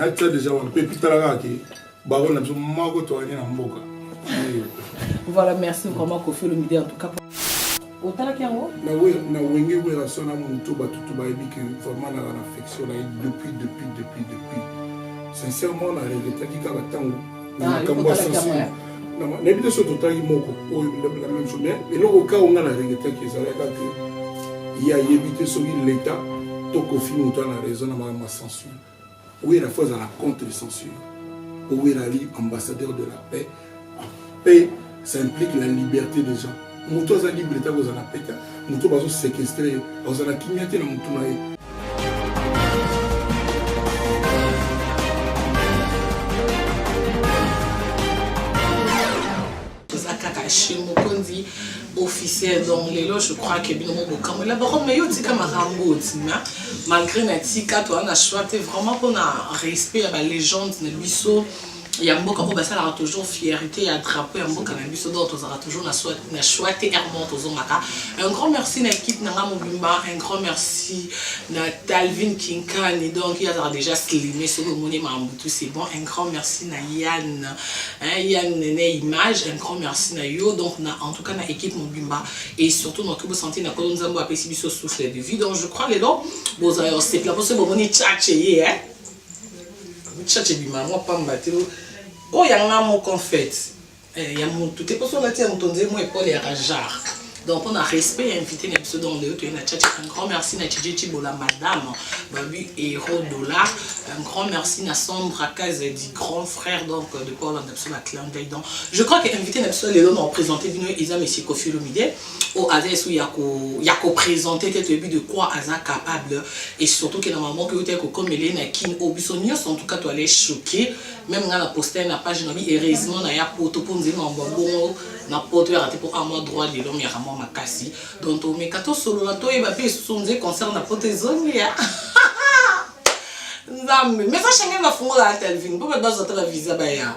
atia deja wana mpe pitala kaka ke baro na biso moko toyani na mboka voilà merci vraiment kofi olomide en tout cas otalaki yango na wenge werasa na moto bato to bayebi ke vraiment naka na affection na ye depuis depuis depuis depuis sincèrement na regretaki kaka ntango na ah, makambo ya sensible nayebi te so totalaki moko oyo la même chose mais eloko ka onga na regretaki ezalaka ke ye ayebi te soki leta to kofi moto ana raison na makambo Censure. Wera faut azala contre censure. Wera ali ambassadeur de la paix. Paix, ça implique la liberté des gens. Moto aza libre ta kozala paix ta. Moto bazo séquestrer, ozala kimia te na moto na ye. toza kaka chez mokonzi officiel donc lelo je crois que bino mobokambo elabaro mais yo tika makambo otima malgré na tika toza na choix te vraiment mpona respect ya balégende na biso ya mboka oyo basalaka toujours fierté ya drapeau ya mboka na biso donc tozalaka toujours na choix te hermon tozongaka un grand merci na équipe na nga mobimba un grand merci na talvin kinkani donc ye azalaka déjà slime soki omoni mambutu c'est bon un grand merci na yann Hein, ya nene image un grand merci na yo donc na en tout cas na équipe mobimba et surtout na kibo santé na kolo nzambo apesi biso souffle de vie donc je crois les lelo boza yo c'est là pour ce bon ni tchatche ye hein tchatche bi maman pamba te oh ya nga moko en fait eh, ya mutu te poso na tia mutu nzemo epole ya rajar Donc on a respect et invité na biso donc leo toye na chacha un grand merci na Tchidje Chibola madame Babu Hero Dollar un grand merci na Sandra Kaze dit grand frère donc de quoi on a biso na clin d'œil donc je crois que invité na biso lelo na représenter bino eza monsieur Koffi Olomide au avec sous yako yako présenter te toyebi de quoi aza capable et surtout que na maman que ote ko komele na kin au biso nyonso en tout cas to aller choquer même nga na poster na page na bi heureusement na ya poto ponzi mambo bongo na poto yaka te mpo a mwa droit de l'homme yaka mwa makasi donc tomeka tosolola toyeba mpe lisusu nze concert na poto ezongi ya nzambe mais sa shangai bafungolaka telvin mpo bato bazwa ata bavisa baya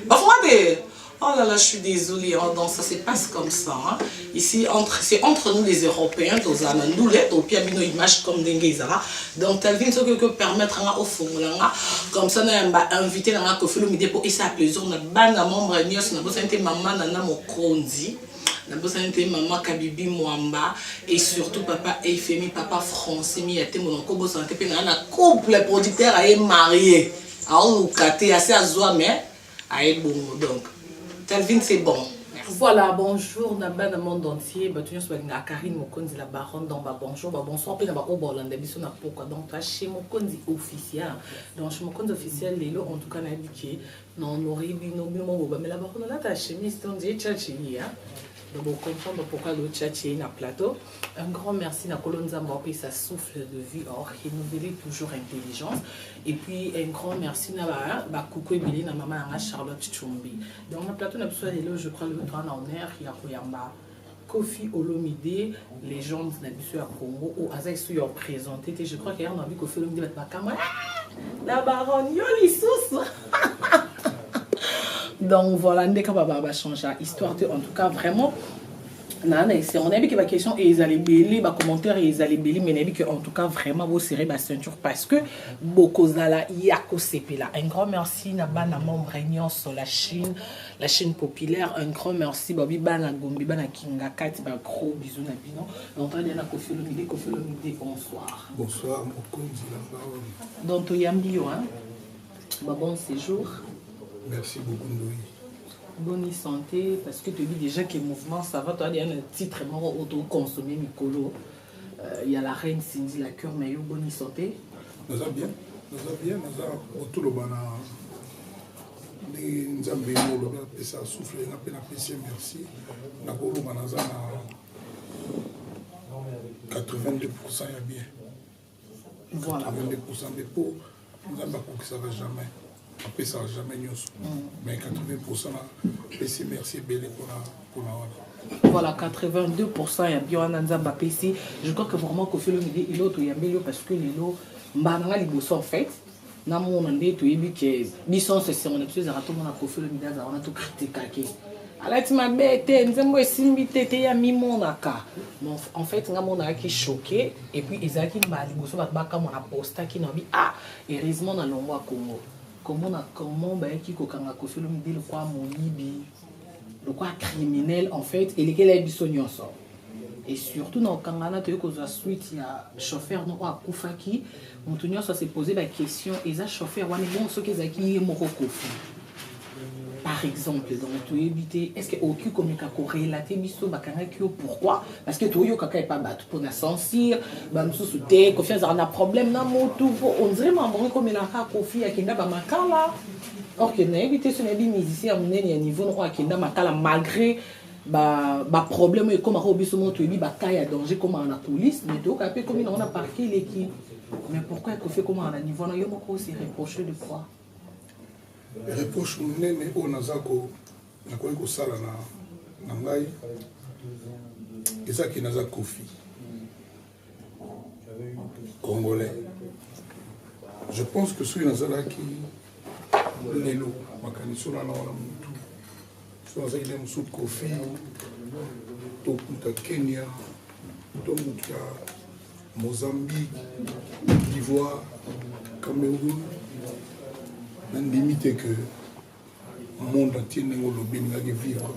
bafunga te Oh là là, je suis désolée, hein, donc ça se passe comme ça. Hein. Ici, entre, c'est entre nous les Européens, Tozana, nous les Topiabino, ils marchent comme des Ngezara. Donc Telvin soki oko permettre nga ofongola nga comme ça na yamba invité na nga Koffi Olomide po esa plaisir na bana membre nyos na bosani te maman na na mokonzi na bosani te maman Kabibi Mwamba et surtout papa Eifemi papa Français mi ya tembo na ko bosana te pe na na couple producteur aye marié aoluka te ase azwa mais aye bongo donc calvin c'est bon Voilà, bonjour na bana monde entier, bato nyonso balingaka Karine Mokonzi la baronne dans ba bonjour, ba bonsoir mpe na ba oyo bolanda biso na pokwa. Donc toi chez Mokonzi officiel. Donc chez Mokonzi officiel lelo en tout cas nayebi ke na honore bino bino moko bamela ba kuna lata chemise to nzee tcha chez ye. Donc vous comprenez pourquoi le chat est na plateau. Un grand merci na Kolo Nzambe apesa souffle de vie or renouveler toujours intelligence. Et puis un grand merci na ba ba coucou ebele na maman na nga Charlotte Chumbi. Donc na plateau na biso lelo je crois le droit na honneur ya koyamba Kofi Olomide légende na biso ya Congo ou aza isu ya présenter te je crois que yango na bi Kofi Olomide bat makama la baronne yo lisusu donc voilà ndeka ba ba changer histoire te en tout cas vraiment naa na esengo nayebi ke baquestion ezala ebele bacommentaire ezala ebele mai nayebi ke en tout cas vraiment bosere baceinture parce que bokozala ya kosepela un grand merci na bana membre nyonso la chine la chine populaire un grand merci babi bana gombi bana kinga kati bagros bisou na bino dontoya na kofelomide kofelomide bonsoir bonsoir mokonzi na baomi donc toyambi yo hein babon séjour merci beaucoup ndoyi boni santé parce que toyebi déjà que mouvement ça va toya deya na titre moko oyo toconsomme mikolo euh, ya la reine cindy la cure mais yo boni santé naza bien naza bien naza kotoloba na ndenge nzambe yango olobi apesa souffle nga mpe napesi merci nakoloba naza na 82 pourcent ya bien nzambe akokisaka jamais apesaka jamais nyonso mais 80 pourcent apesi merci ebele mpona wana voilà 82 pourcent ya bio wana nzambe apesi je crois que vraiment kofelo midi elo toyambeli yo parce que lelo mbala nanga liboso en fait na mona nde toyebi ke biso nso esengo na biso ezalaka tomona kofi olomide aza wana tokritikake alati mabe te nzembo esimbi te te ya mimonaka bon en fait nga monakaki choqué et puis ezalaki mbala liboso bato bakamwa na postaki na bi ah heureusement na longwa congo komona comment bayaki kokanga kofi olomide lokwa moyibi lokola criminel en fait elekela ye biso nyonso et surtout na okangana toyei kozwa suite ya chauffeur noko akufaki moto nyonso asepose baquestion eza chauffeur wana ebongo soki ezalaki ye moko kofi par exemple donc toyebi te est ce que okoki komeka korelate biso bakangaki yo pourquoi parce que toyokaka epa bato mpona censure bamosusu te kofi azalaka na problème na motu po ondire mamongo ekomelaka kofi akenda bamakala Or que nayebi te soki nayebi musicien ya monene ya niveau noko akenda makala malgré baproblème oyo ekomaka oyo biso moko toyebi baka ya danger ekomaka na coulisse mais toyokaa mpe ekomi nango na parke eleki mais pourquoi ekofi ekomaka na niveau na yo moko ose reproche de quoi reproche monene oyo naza nakoki kosala na ngai ezaki naza kofi congolais je pense que soki nazalaki lelo makanisi olala wana motu soki nazalaki na mosusu kofi to moto ya kenya to moto ya mozambique divoire cameroun nandimi te que monde entier ndenge olobi elingaki vivre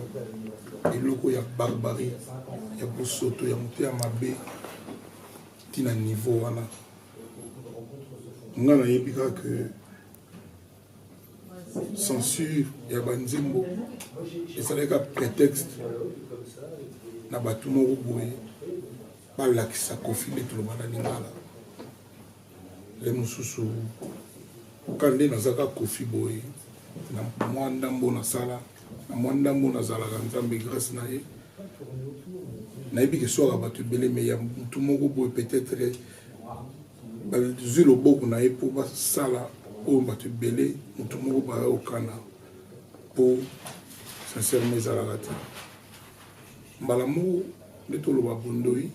eloko ya barbarie ya bosoto ya moto ya mabe ntina niveau wana nga nayebi kaka ke censure ya banzembo esalaka prétexte na bato moko boye balakisa kofi nde tolobana lingala le mosusu ka nde naza ka kofi boye na mwa ndambo nasala na mwa ndambo nazalaka nzambe grâce na ye nayebi keswaka bato ebele me ya motu moko boye peut-être bazwi loboko na ye mpo basala oyo bato ebele motu moko baya okana mpo sincèrement ezalaka te mbala moko nde toloba bondoi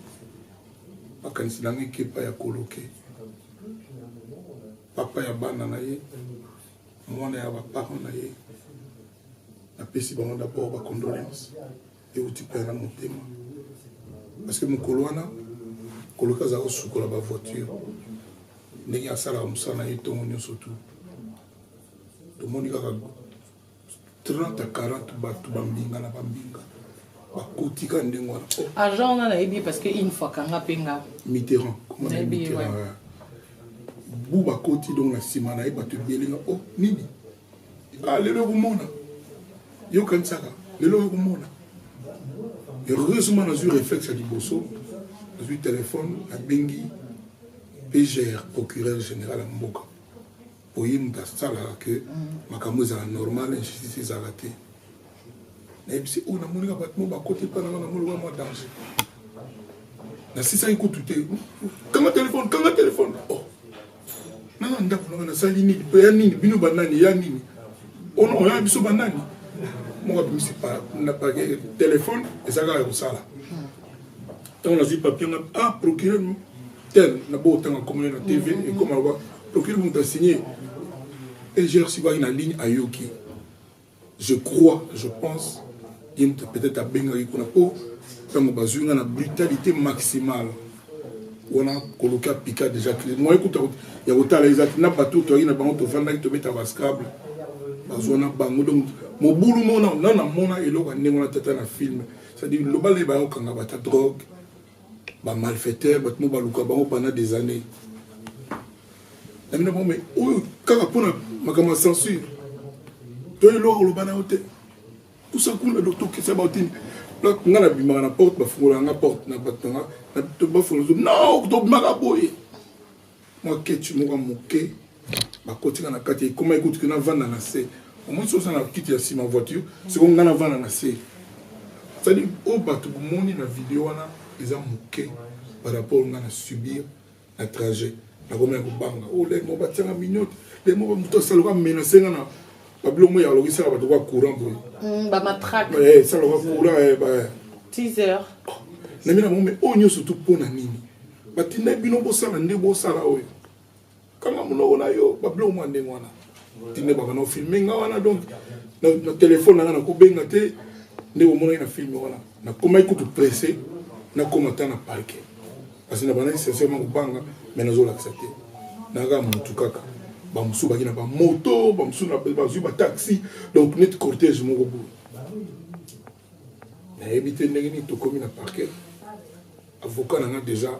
makanisi na ngai kepa ya koloke papa ya bana na ye mwana ya baparent na ye napesi bango dabord bacondolence euti mpe na motema parce que mokolo wana koloka azala kosukola bavoiture ndenge asalaka mosala na ye ntongo nyonso tu tomoni kaka 30 à 40 bato bambinga na bambinga bakoti ka ndenge wana oh. agent wana nayebi ye parce que une fois kanga mpe nga mitterrand bu bakoti donc na nsima na ye bato ebele nga o oh, nini ah, lelo ekomona yokanisaka lelo ekomona heureusement nazwi réflexe ya liboso nazwi telefone nabengi pgr procureur général ya mboka Oye moto asalaka ke makambo ezala normal injustice ezala te nayebisi oyo namonaka bato mo bakoti epai nanga na moloba mwa danger nasisaki kutu te kanga telefone kanga telefone oh. nanga ndako nanga nasali nini mpe ya nini bino banani ya nini ono oh oya biso banani moko abimisi na pake telefone ezalaka ya kosala ntango nazwi papier nga ah procureur tel na bo otanga nkombo na tv mm-hmm. ekoma loba procureur moto asigne egr sikwaki na ligne ayoki je crois je pense ye moto peut-être abengaki kuna mpo ntango bazwi nga na brutalité maximale wana koloki apika déjà crise moye kuta ya kotala ezalaki na bato toyaki na bango tofandaki tobeta bascable bazwa na bango donc mobulu mona na namona eloko ya ndenge wana tata na filme c'est-à-dire loba le bayo kanga bata drogue ba malfaiteur bato mo baluka bango pendant des années na bino bango mais oyo kaka mpona makambo ya censure to eloko oloba na yo te kusa kuna do tokisa baotini nga na bimaka na porte bafungola nga porte na bato na nga bafungolaa no tobimaka boye mwa ketch moko ya moke bakotika na kati ekomaki kutu kina vanda na se omoni soki oza na kiti ya nsima voiture siko ngai na vanda na se cetadi oyo bato bomoni na video wana eza moke par rapport ngai na subir na trajet nakomaki kobanga o oh, lei moko batianga miniote lei moko moto asaloka menase nga na babiloko moya aloki sala bato kwa courant boye mm, bamatrake eh, saloka courant eh, teaser na mina bango me oyo oh, nyonso tu mpo na nini batindaki bino bosala nde bosala oyo kanga monoko na yo babiloko mwa ndenge wana tinde baka na ofilme nga wana donc na telefone nanga nakobenga te nde omonaki na filme wana nakomaki kutu presse nakoma ata na parke kasi na bandaki sincèrement kobanga mai nazolakisa te naka motu kaka bamosusu baki na bamoto bamosusu bazwi bataxi donc neti cortège moko boye nayebi te ndenge nini tokomi na parquet avocat na nga déjà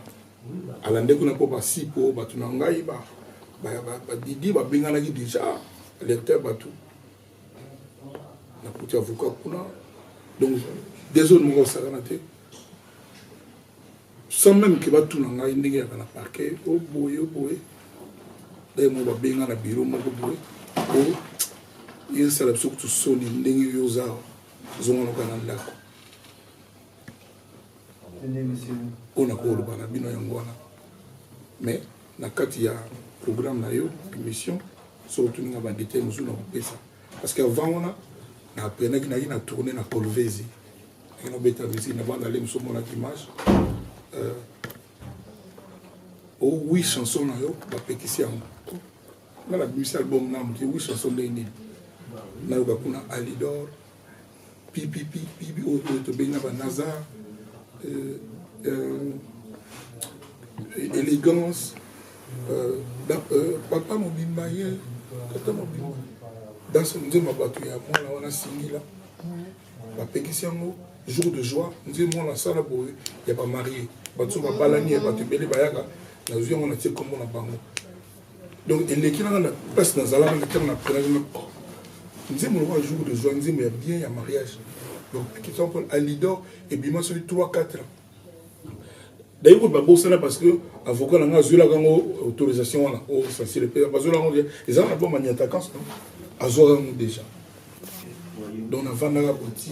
alande kuna mpo basi mpo bato na ngai badidi babenganaki déjà alerter bato nakuti avocat kuna donc desone moko osakana te sans même ke batuna ngai ndenge yaka na parquet oboye oh oboye oh daye moko babenga na biro moko boye o oh, esala biso kutu soni ndenge yo oza zonga loka na ndako oyo nakoloba na bino yango wana mais na kati ya programme na yo émission soki otuninga badetail mosusu na kopesa parce que avant wana na aprenaki naki na tourne na colvesi naki nabeta musiki na banda le mosu omonaki image euh, o oh wi chanson na yo bapekisi yango nga nabimisi album na moke wiso aso ndenge nini nayoka kuna alidor pipipi pipi oyo oyo tobengi na banazar euh, euh, élégance euh, papa mobimba ye tata mobimba danse nzemba bato ya mwana wana singila bapekisi yango jour de joie nze mwana asala boye ya bamarie bato so babalani ya bato ebele bayaka nazwi yango natie nkombo na bango donc eleki nanga na place nazalaka na ntango na prenaki na oh, nzembo lokola jour de joie nzembo ya bien ya mariage donc question paul alidor ebima soki 3 4 ans dayi kutu babosana parce que avocat na ngai azwelaka yango autorisation wana o sensile mpe bazwelaka yango ezalaka na boma niatakance no azwaka yango déjà donc navandaka koti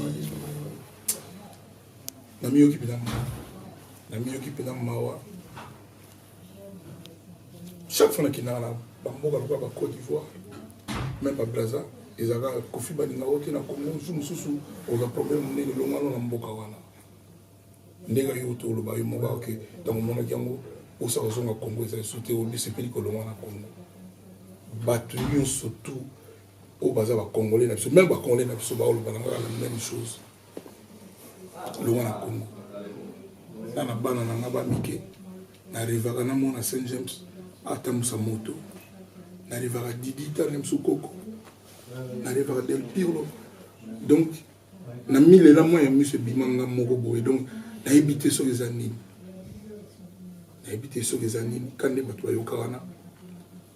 namiyoki mpenza mawa namiyoki mpenza mawa chaque fois nakendaka na bamboka lokola ba côte d'ivoire même ba braza ezalaka kofi balinga yo te na congo mosusu mosusu oza problème monene elongano na mboka wana ndenge yo toloba yo moko oke ntango omonaki yango osa kozonga congo eza lisusu te obisepeli kolongwa na congo bato nyonso tout oyo baza bacongolais na biso meme bacongolais na biso baolobana kaka na même chose longwa na congo nga na bana na nga bamike narevaka na mwana saint james atambusa moto narevaka didita na biso koko narevaka del pirlo donc na milela mwa ya miso ebima nga moko boye donc nayebi te soki eza nini nayebi te soki eza nini kande bato bayoka wana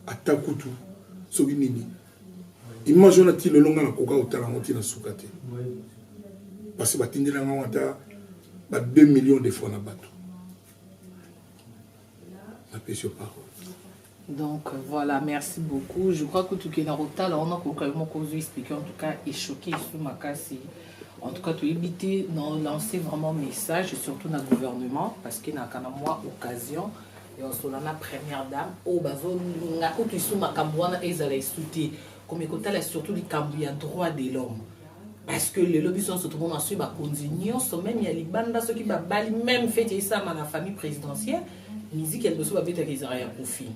ata kutu soki nini image wana ti lelo nga nakoka kotala yango ti na suka te parce batindela nga ngo ata ba 2 millions de fois na bato napesi yo parole Donc euh, voilà, merci beaucoup. Je crois que tout qui est dans Rotala, on a compris mon cause expliqué en tout cas et choqué sous ma casse. En tout cas, tu éviter de lancer vraiment message, surtout dans le gouvernement, parce qu'il n'a qu'à moi occasion osola na première dame oyo bazolinga kutu isu makambo wana ezala esu te komi kotala surtout likambo ya droit de l'homme parce que lelo biso nyonso tomona soki bakonzi nyonso meme ya libanda soki babali meme fete esama na famille présidentielle miziki ya liboso babetaka ezala ya kofi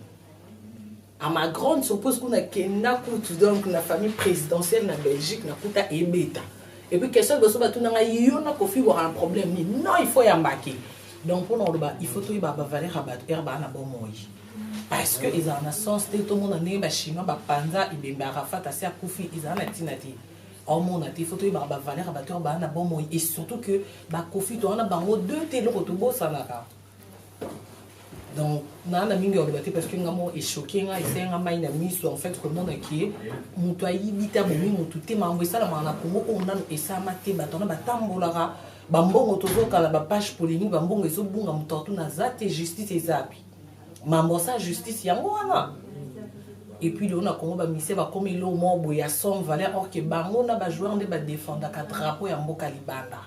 A ma grande surprise kuna kenda kutu donc na famille présidentielle na Belgique na kuta ebeta. Et puis question liboso batuna ngai yo na Koffi bwaka na problème nini? Non il faut ya mbaki. Donc mpo na koloba il faut toyeba ba valeur ya bato ere baa na bomoi. Parce que ezala na sens te tomona ndenge ba chinois bapanza ebembe Arafat asi akufi ezala na ntina te. omona te faut toyebaka bavaleur ya bato ere baa na bomoi et surtout que bakofi toza na bango deux te eloko tobosanaka. donc naa na mingi ya koloba te parce que nga moko echoke nga esali nga mai na miso en fait komona ke moto ayibi te abomi moto te makambo esalamaka na kongo oyo nano esalama te bato wana batambolaka bambongo tozokala bapage polémique bambongo ezobunga moto atu naza te justice ezapi mambo asa justice yango wana epuis lelo na kongo bamisie bakomi eloo moko boye ya somme valeur orke bango na bajoueur nde badefendaka drapeau ya mboka libanda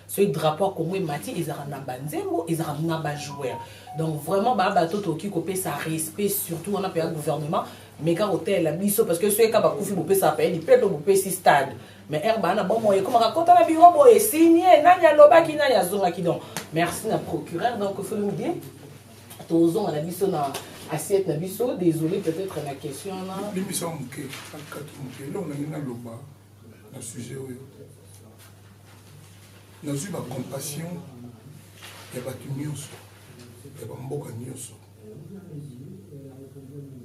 soki drapeau ya congo emati ezalaka na banzembo ezalaka na bajoueur donc vraiment baa bato tokoki kopesa respect surtout wana mpenza gouvernement meka kotalela biso parce que soki eka bakufi bopesaka mpe lipe mpe bopesi stade mais ere baa na bomoi ekomaka kota na biro boye signe nani alobaki nani azongaki donc merci na procureur donc folude tozonga na biso na assiette na biso désolé peut-être na question na na sujet oyo nazwi ba compassion ya bato nyonso ya bamboka nyonso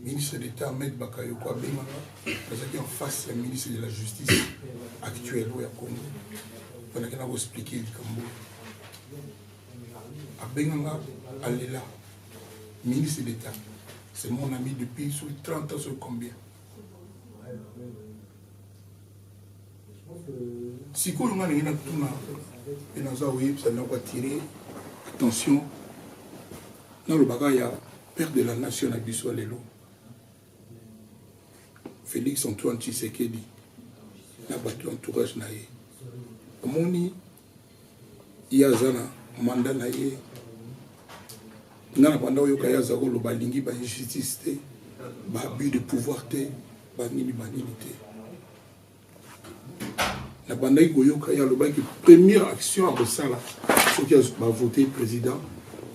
ministre d'état ahmed bakayoko abengaka nazalaki en face ya ministre de la justice actuel oyo ya congo bandaki na koexplike likambo abenganga alela ministre d'état c'est mon ami depuis sur 30 ans sur combien sikoyo nga ndenge natuna mpe naza koyebisa na koatire attention nalobaka ya père de la nation na biso ya lelo félix antoine tshisekedi na bato ya entourage na ye omoni ye aza na manda na ye nga na banda oyoka ye aza koloba alingi ba injustice te ba abus de pouvoir te banini banini te nabandaki koyoka ye alobaki première action akosala soki bavote président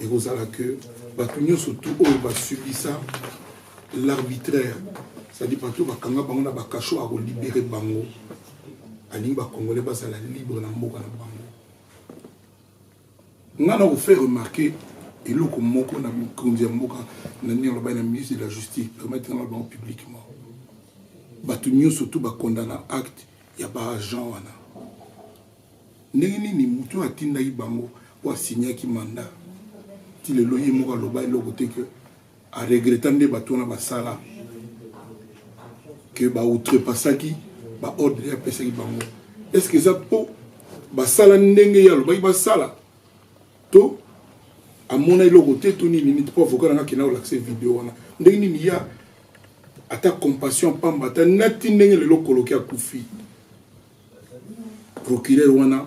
ekozala que bato nyonso tu oyo basubisa l'arbitraire cestadi bato bakanga bango na bakasho akolibere bango alingi ba congolais bazala libre na mboka na bango nga na kofaire remarquer eloko moko na mikonzi ya mboka na ndenge alobai na ministre de la justice permettre nga bango publiquement bato nyonso to bakondana acte ya baagent wana ndenge nini moto oyo atindaki bango oyo asignaki mandat ti lelo ye moko aloba eloko te ke A regretta nde batu wana basala que ba outrepassaki ba ordre ya pesaki bango. Est ce que eza po basala ndenge ya lobaki basala to amona eloko te to nini nini po avocat nanga kenda kolakisa video wana ndenge nini ya ata compassion pamba ata nati ndenge lelo koloki akufi procureur wana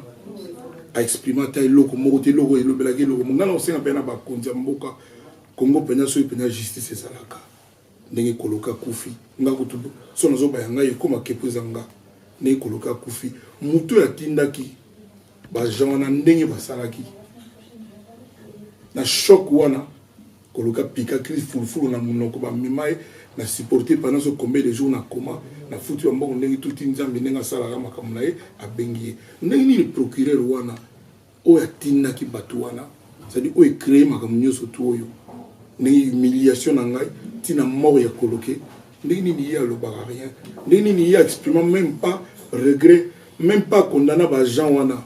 a exprime ata eloko moko te eloko elobelaki eloko mo ngai na kosenga mpe na bakonzi ya mboka kongo mpenza soki mpenza justice ezalaka ndenge koloka kufi nga kutu so nazoba ya ngai ekoma kepo eza nga ndenge koloka kufi moto oyo atindaki bajean wana ndenge basalaki na shok wana Koluka pika crise fulufulu na munoko ba mema ye na supporte pendant ce combien de jours na coma na futi ba mbongo ndenge tuti nzambe ndenge asalaka makambo na ye abengi ye ndenge nini procureur wana oyo atindaki batu wana c'est à dire oyo ecree makambo nyonso tu oyo ndenge humiliation na ngai tina mort ya koloke ndenge nini ye alobaka rien ndenge nini ye exprima même pas regret même pas condamna ba gens wana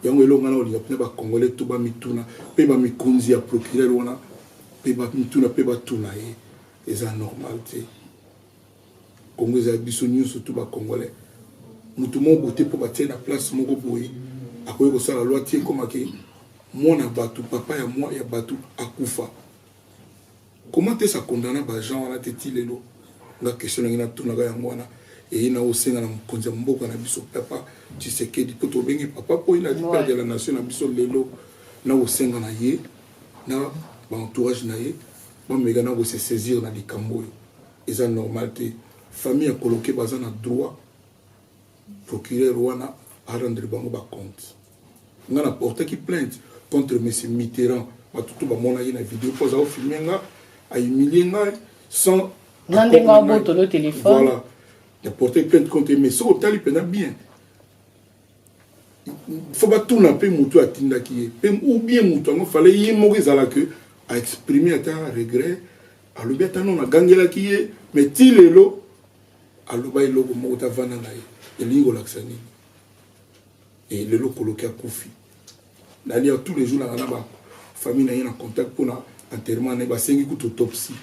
Yango eloko nga nakolinga mpenza ba Congolais tout bamituna mpe ba mikonzi ya procureur wana mpe bamituna mpe batuna ye eza normal te Congo eza biso nyonso tout ba Congolais motu moko bote mpo batie na place moko boye akoki kosala loi ti ekomaki mwana bato papa ya mwa ya bato akufa Comment est-ce a condamna ba gens wana te ti lelo? Nga question na ngai na tuna ka yango wana. Eye na osenga na mokonzi ya mboka na biso papa Tshisekedi po tobengi papa po ina dit père de la nation na biso lelo na osenga na ye na ba entourage na ye bameka na ko se saisir na likambo oyo eza normal te famille ya koloke baza na droit procureur wana arendre bango bacompte nga na portaki plainte contre monsieur Mitterrand batu to bamonaki na video mpo aza ofilme nga ahumilie ngai sans na ndenge abotolo téléphone voilà na portaki plainte contre mais soki otali mpena bien fo batuna mpe motu atindaki ye mpe ou bien motu yango fale ye moko ezala ke aexprime ata regret alobi ata nono agangelaki ye mais ti lelo aloba eloko moko tavanda na ye elingi kolakisa nini Et lelo koloki akufi. Nalia tous les jours na ba famille na ye na contact pour na enterrement na basengi kutu autopsie.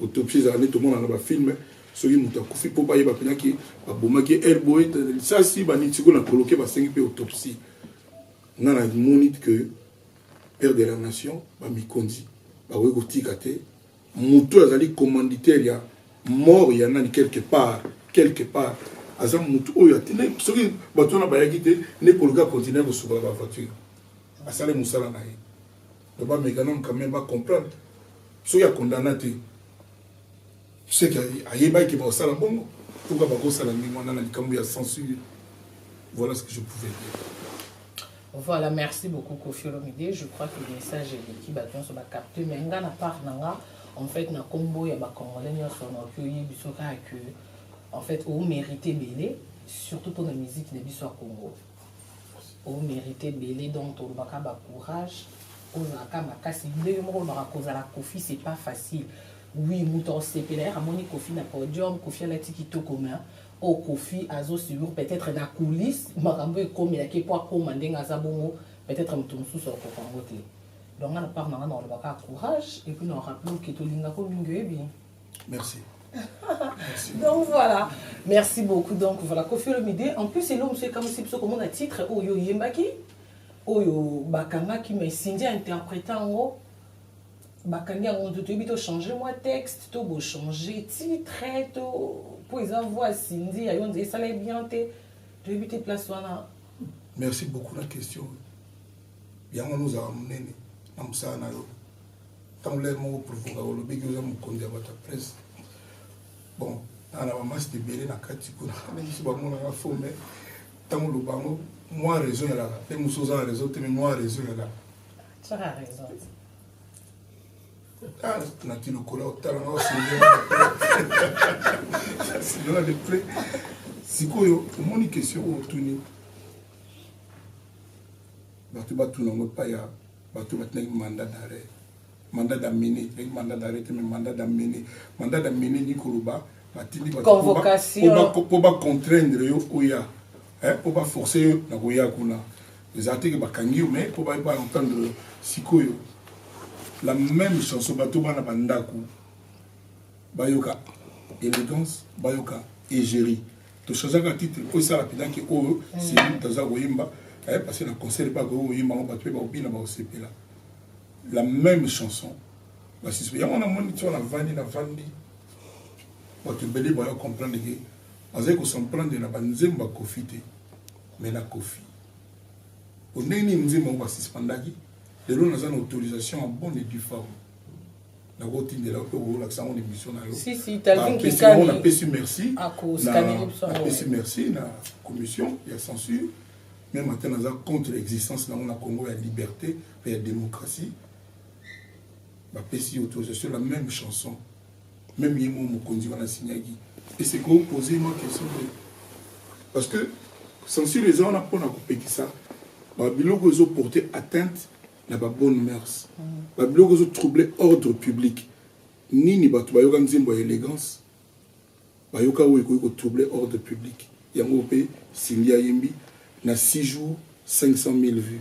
Autopsie ezala nde tomona na ba films soki moto akufi mpo bayeba mpena ke babomaki air boye lisasi baniti sikoyo na koloke basengi mpe autopsie nga na moni ke père de la nation bamikonzi bakoki kotika te Moto oyo azali commanditaire ya mort ya nani quelque part quelque part aza moto oyo atindaki soki bato wana bayaki te nde koluka continue kosukola bavoiture asali mosala na ye to bamekanome quand même bacomprendre soki akondana te seke ayebaki ke bakosala bongo pourkua bakosala ndenge wana na likambo ya censure voilà ce que je pouvais dire Voilà, merci beaucoup Kofi Olomide. Je crois que le message est qui va bien se capter. Mais nga na part nanga, en fait, na combo ya ba Congolais nyo son okiyi bisoka que en fait, on mérite belé, surtout pour la musique de biso Congo. On mérite belé donc on va ba courage, on a ka makasi. Ndenge moko ba cause la Kofi, c'est pas facile. Oui, muto sepela ya moni Kofi na podium, Kofi la tiki to commun. Oyo Koffi azo subir peut etre na coulisse makambo oyo ekomelaki ye po akoma ndenge aza bongo peut etre mutu mususu akokoka yango te. Donc nga na part na nga nako loba kaka courage et puis nako rappeler yo que to lingaka yo mingi oyebi. Merci. donc voilà merci beaucoup donc voilà Koffi Olomide en plus eloko mosusu ekamwisi biso komona titre oyo oyembaki oyo bakangaki mais Cindy a interprete yango bakangi yango ntu toyebi to changer mwa texte to bo changer titre to mpo eza voix sindi ya yo nze esala ye bien te toyebi te place wana merci beaucoup na question yango wana ozalaka monene na mosala na yo ntango lere moko provoka olobeki oza mokonzi ya bato ya presse bon naa na bamasta ebele na kati kuna biso bamonaka fo me ntango oloba yango mwa raison yalaka mpe mosusu oza na raison te me mwa raison yalaka Tu as raison. Ah, na ti lokola otala na osindela de près sikoyo omoni question oyo otuni bato batuna yango epai ya bato batinaki mandat d'arrêt mandat d'amener ezalaki mandat d'arrêt te mais mandat d'amener mandat d'amener ni koloba batindi bato po bacontraindre yo oya Eh, po ba forcer yo na koya kuna. Eza te que bakangi yo mais po ba ba entendre sikoyo la même chanson bato bana ba ndako bayoka élégance bayoka égérie tochangeaka titre oyo esala mpenza ke oyo seli toza koyemba aye passé na concert mpe akoki koyemba yango bato mpe bakobina bakosepela la même chanson basusu yango namoni ti wana vandi na vandi bato ebele bayo comprendre ke Azali ko s'en prendre na ba nzembo ya Koffi te mais na Koffi. Po ndenge nini nzembo yango ba suspendaki lelo naza na autorisation en bonne et due forme. nakotindela yo mpe okolakisa yango na émission na yo napesi merci napesi merci na commission ya censure meme ata naza contre existence na yango na congo ya liberté mpe ya démocratie bapesi autorisation la même chanson meme ye moko mokonzi wana asinyaki ese ko pose mwa question te parce que censure eza wana mpona kopekisa babiloko ezo porter atteinte na babonne mœurs mm. babiloko ezo trouble ordre public nini bato bayoka nzembo ya élégance bayoka oyo ekoki kotrouble ordre public yango mpe cindy ayembi na 6 jours 500 000 vues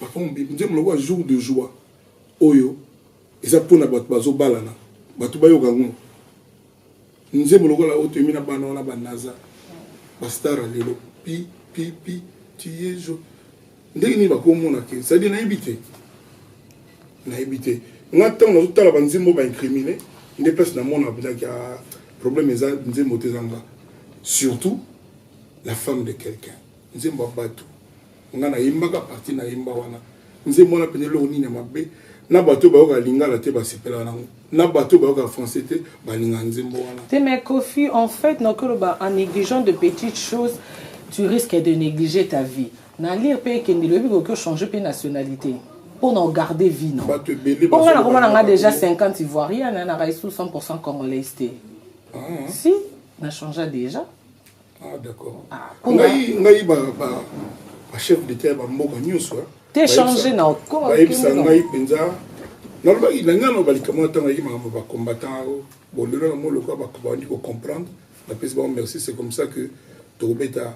papa mobimbi nzembo lokola jour de joie oyo eza mpona bato bazobalana bato bayoka yango nzembo lokola oyo toyemi na bana wana banaza bastara lelo pi pi pi tiyezo ndenge nini bakomona ke cestadire nayebi te nayebi te nga ntango nazotala banzembo baincrimine nde place namona bilaki ya ah, problème eza nzembo te ezanga surtout la femme de quelqu'un nzembo ya batu nga nayembaka parti nayemba wana nzembo wana mpenza eloko nini ya mabe na bato oyo bayokaka lingala te basepelaka nango na bato oyo bayokaka français te balingaka nzembo wana te mais kofi en fait nakoki oloba en négligeant de petites choses tu risques de négliger ta vie na lire mpe ekendeli oyebi koki ochange mpe nationalité mpo na ogarde vie na mpo ngai nakoma na ngai déjà 50 ivoirienne na ngai sous 100 congolaise te ah, ah. si na changea déjà ah d'accord ah, ngai ngai ba ba ba chef d'état ba mboka nyonso hein. te changer na okoma bayebisa ngai mpenza nalobaki na ngai naloba likambo na ntango ayaki makambo ba combattant oh, bon lelo na moloko bakobandi kocomprendre napesi bango merci c'est comme ça que tokobeta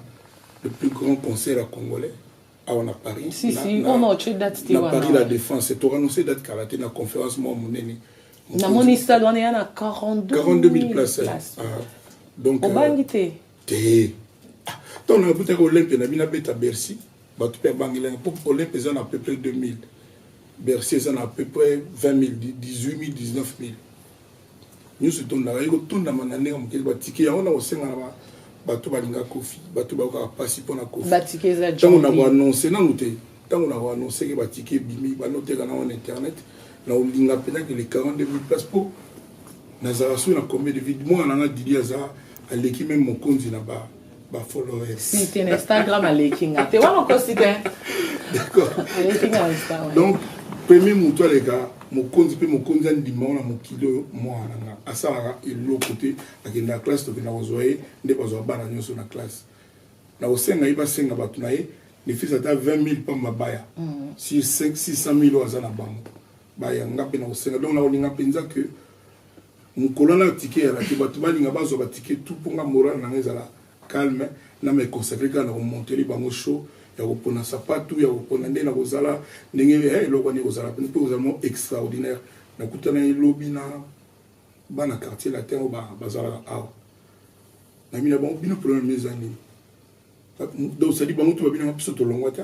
le plus grand concert ya congolais awa na paris si, na, si. Na, oh, no, date na paris la défense tokanonse date kala te na conférence mwa monene namoni stade wana ya na 42000 place ah, donc obangi euh, te te ntango ah, nakutaki olympe na bino abeta bercy bato mpe abangelaki mpo olympe eza na peu près 2000 bercy eza na peu près 20 000 18 000 19 000 nionso etondaka ekotondama na ndenge moke ba tike yango na kosenga na bato balinga kofi bato bayokaka mpasi mpo na kofi ntango na koannonce nanu te ntango na koannonce ke ba tike ebimi banoteka nango na internet na kolinga mpenza ke le 42 mille place mpo nazalaka soki na combien de vide mwana nanga didi aza aleki meme mokonzi na ba ba followers si te na instagram aleki nga te wana okosi te d'accord aleki nga instagram donc premier moto aleka mokonzi mpe mokonzi andima wana mokili oyo mwana nga asalaka eloko te akenda classe tokenda kozwa ye nde bazwa bana nyonso na classe na kosenga ye basenga bato na ye nefisi ata 20 000 mpamba baya mm. sur 600 000 oyo aza na bango baya nga mpe na kosenga donc na kolinga mpenza que Mukola na ticket ya radio batu balinga bazwa ba ticket tout po nga morale na nga ezala calme na me consacrer kaka na ko monteli bango show ya kopona sapatu ya kopona nde na kozala ndenge eh, eloko wana ekozala mpe kozala mo extraordinaire nakutanaki lobi na bana quartier latin oyo bazalaka awa nayemi na bango bino problème eza nini donc sadi bango to babinanga biso tolongwa te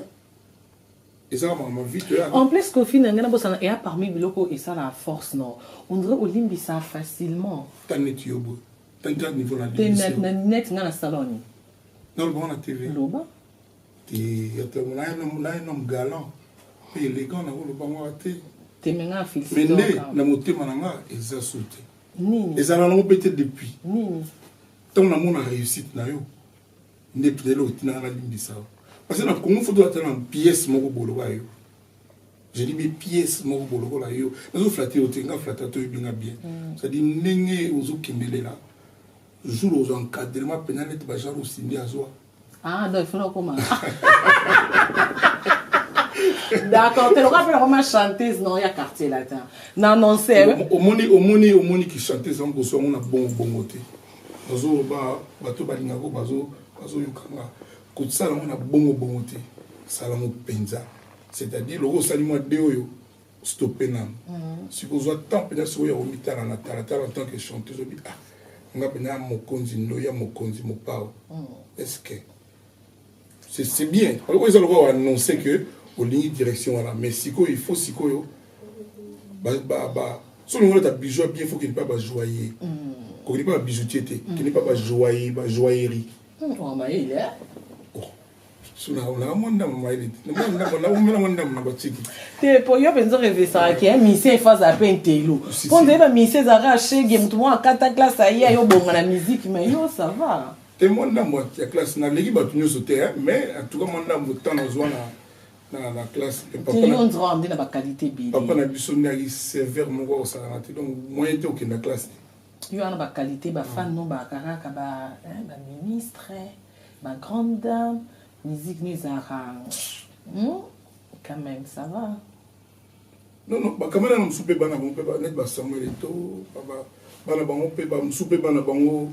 En plus, Kofi n'a ngana bosana et parmi biloko et ça la force non. On dirait olimbi ça facilement. T'as net yobo. T'as net niveau la limbi. T'as net net ngana salon. Non, bon la TV. Loba. T'es t'es on a un homme là un homme galant. Pe élégant na ko loba ngwa te. T'es menga fils. Mais né na motema na nga eza sauté. Nini. Eza na ngo peut-être depuis. Nini. Tant na mona réussite na yo. nde tutele otina nga nalimbisa yo parce na congo foto ata na pièce moko boloba yo je dis bien pièce moko bolokola yo nazoflate yo te nga flata toyebi nga bien mm. cestadire ndenge ozokendelela jour ozo encadrement mpenza neti bajar osindi azwa ah, donc ifona okoma d'accord te lokola mpe nakoma chanteuse nao ya quartier latin na nonse omoni omoni omoni ki chanteuse yango boso yango na bongo bongo te Bazo ba bato balingaka oyo bazo bazo yoka nga kotisala yango na bongo bongo te sala yango mpenza c'est-à-dire loko osali mwa de oyo stoppe nanu mhm. siko ozwa temps mpenza sikoyo ya komitala na talatala en tant que chanteuse obi ah nga mpenza mokonzi ndoya mokonzi mopao mhm. est ce que c'est bien oyo eza lokola oannonce que olingi direction wana mais sikoyo il faut sikoyo soki olingolata bijou ya bien faut kende mpe bajoye kokende mpe babijoutier te kende mpe bajoye bajoyerie sunaka mwa ndambo mayele omela mwa ndambo na batiki te po yo mpenza orevesaka ke misie efo azala mpe ntelo mpo nzayeba misie ezalaka shege moto moko akata klase aye ayo obonga na miziki ma yo sava te mwa ndambo ya classe naleki bato nyonso te mais en tout cas mwa ndambo ntan nazwa na na na classe nde na bakalite ebele papa na biso nde ayaki serveur moko akosalaka te donc moyen te okenda classe te yo wana bakalite bafane no bakakaka baministre bagrande dame musique no ezalaka hmm? quand même ça va non non bakamela na mosusu mpe bana bango mpe neti basamuel eto bana bango mpe bamosusu mpe bana bango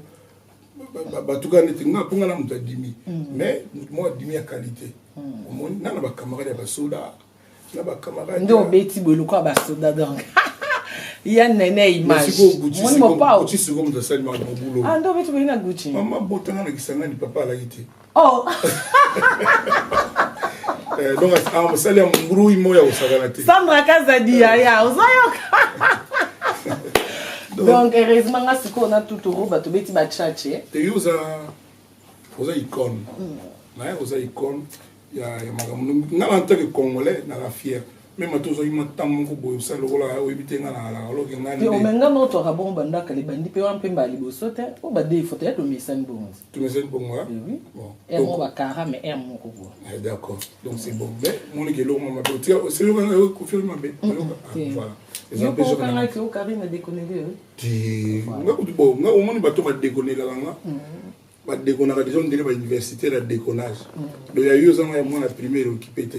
batuka neti nga mpo nga na moto adimi mm. mais moto moko adimi ya qualité mm. omoni nga na bacamarade ya basoda na bacamarade nde obeti boye lokola basoda donc ya nene imagemoni mopaoando obeti boye na gucci mama botanga na kisangani papa alaki te Oh. Eh, donc ah, mosali ya mbrui moya kosakana te sandra kazadi yaya ozoyoka donc heureusement nga sikoyo na tuturu bato beti bachache eyi oza oza icone naye oza icone ya makambo nga na ntanke congolais naza fiere meme ata ozwaki mwa ntango moko boye osali lokola oyebi te ngai nalaka oloke nganimenga na otwaka bongo bandaka libandi mpe wana mpe mbala liboso te mpo badefo te ya tomesani bongo tomesani bongo eh moko bakara mais r moko bo ah, d'accord donc c'est bon mais moniki eloko mwa mabe otika oselokanga yo kofirme mabe okangaki okarine dekoneli nga kutu bo nga omoni bato badekonelaka nga ba dekonaka deja ondire ba universitaire ya dekonage do ya yo ozanga ya mwana primaire okipe te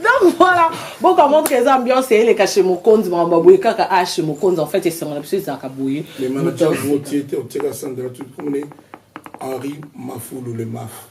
donc voilà boka montre eza ambiance eleka chez mokonzi makambo boye kaka a chez mokonzi en fait esengo na biso ezalaka boye mais manager otie te otieka sandra tukumune henri mafulu le maf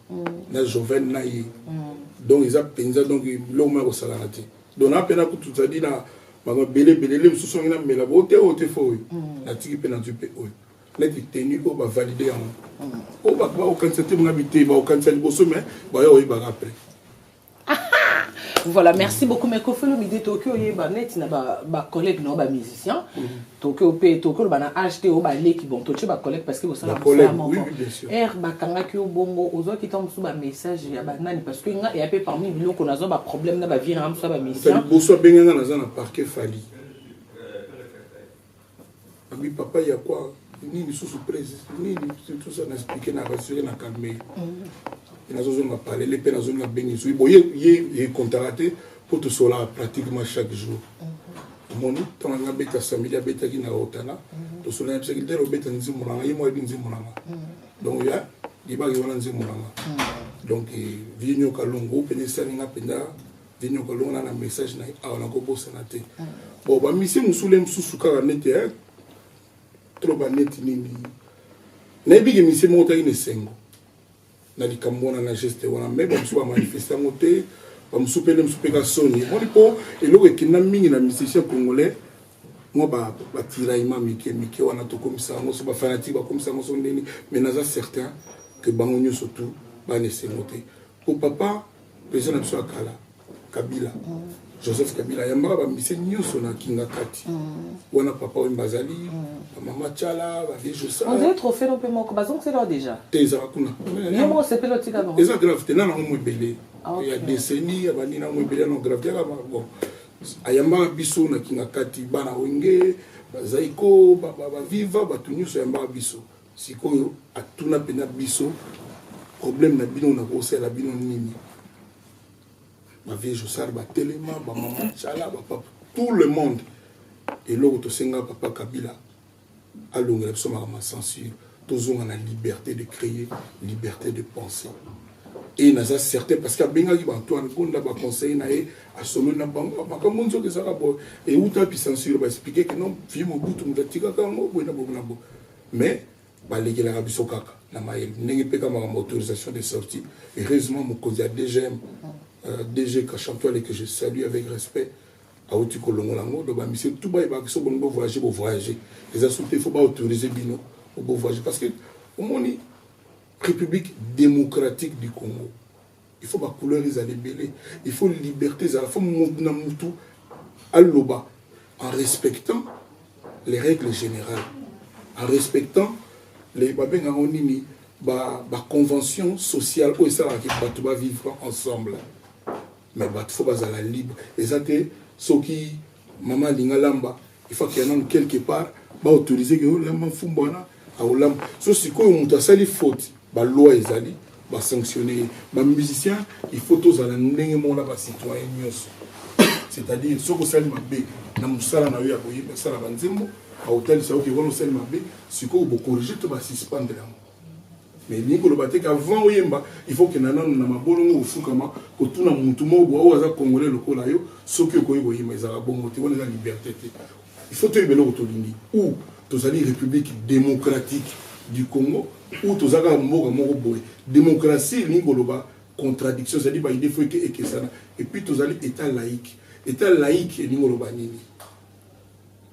na joven na ye donc eza mpenza donc biloko moko ya kosalana te donc na mpe nakutu zadi na makambo ebele ebele le mosusu yangi namela bo te oyo te fo oyo natiki mpe nazwi mpe oyo neti teni oyo bavalide yango oyo bato bakokanisa te monga bitei bakokanisa liboso mai baya oyebaka apres voilà merci beaucoup mais kofi olomide toki oyeba neti na bacollègue nao bamusicien toki ope toki oloba na age te oyo baleki bon totie bacollègue parce que bosala mosala moko ere bakangaki yo bongo ozwaki ntango mosusu bamessage ya banani parce que nga eya mpe parmi biloko nazwa baproblème na bavie na nga mosusu ya bamusicien liboso abenganga naza na parquet fali Ami papa ya kwa nini susu presi nini tout ça na expliquer na rassurer na calmer. Mm. Nazo zonga palele pe nazo zonga bengi soyi boye ye ye kontara te pour tout cela pratiquement chaque jour. Mm. Moni tant nga beta samedi abeta ki na otana. Mm. To sola yebisa ki dero beta nzimbo na ye mo ebi nzimbo na nga. Mm. Donc ya libaki wana nzimbo na nga. Mm. Donc eh, vie nyoka longo pe ne salinga penda Dino kolonga na message na awa na kobosana te. Bon ba mission musule mususu kaka neti hein. Trop ba neti nini. Na bigi mission moko taki nesengo. Na likambo wana na geste wana mais ba mususu ba manifester ngo te. Ba mususu pe ne mususu pe ka soni. Moni po eloko ekinda mingi na musicien congolais. Moi ba ba tiraillement mike mike wana to komisa ngo so ba fanatique ba komisa ngo so ndeni mais naza certain que bango nyoso tout ba nesengo te. Po papa president na biso ya kala kabila mm. joseph kabila ayambaka bamise nyonso na kingakati mm. wana papa wemba azali mm. bamama cala bavie josaozali trofelo mpe moko bazongisela deja te ezaka kuna eza grave te nana yango ebele ah, ya deseni ya banini yango ebele yango grave te yaka bon ayambaka biso na kingakati bana wenge bazaiko baviva bato nyonso ayambaka biso Sikoyo atuna pena biso problème na bino na kosala bino nini? Ba vieux Josar ba telema, ba maman Chala, ba papa tout le monde. Eloko tosenga papa Kabila alongela biso makambo ya censure tozonga na liberté de créer liberté de penser et naza certain parce que abengaki bato wana gonda baconseille na ye asololi na bango makambo nzoka ezalaka boye euta bisansure baexplike ke non vie mobutu moto atikaka yango boye na boye na boye Mais balekelaka biso kaka na mayele ndenge mpe ka makambo autorisation de sortie heureusement mokonzi ya dgm euh, dg kashantuale que je salue avec respect awuti kolongola yango donc bamisie tout bayebaka so bolingi bovoyage bovoyage eza so te fo baautorise bino bovoyage parce que omoni république démocratique du congo il faut ba couleur ezala ebele il faut liberte ezala faut mutu na mutu aloba en respectant les règles générales en respectant les babenga ngo nini ba ba convention sociale oyo esalaka ke bato ba vivre ensemble mais bato faut bazala libre eza te soki Maman alinga lamba il faut qu'il y en a quelque part ba autoriser que oh, lamba mfumba wana aolamba ah, so sikoyo moto asali faute ba loi ezali ba sanctionner ye ba musicien il faut tozala ndenge moko na ba citoyen nyonso c'est-à-dire soki osali mabe na mosala na yo ya koyeba sala banzembo aotalisa yo ke wana osali mabe sikoyo bokorige to basuspendre yango Mais ni koloba te qu'avant oyemba il faut que nana na mabolongo ofukama kotuna mutu moko boa oyo aza congolais lokola yo soki okoki koyemba ezalaka bongo te wana eza liberté te il faut toyeba eloko tolingi ou tozali république démocratique du congo ou toza kaka mboka moko boye démocratie elingi koloba contradiction ezali baide fo eke ekesana epuis tozali état laïque état laïque elingi koloba nini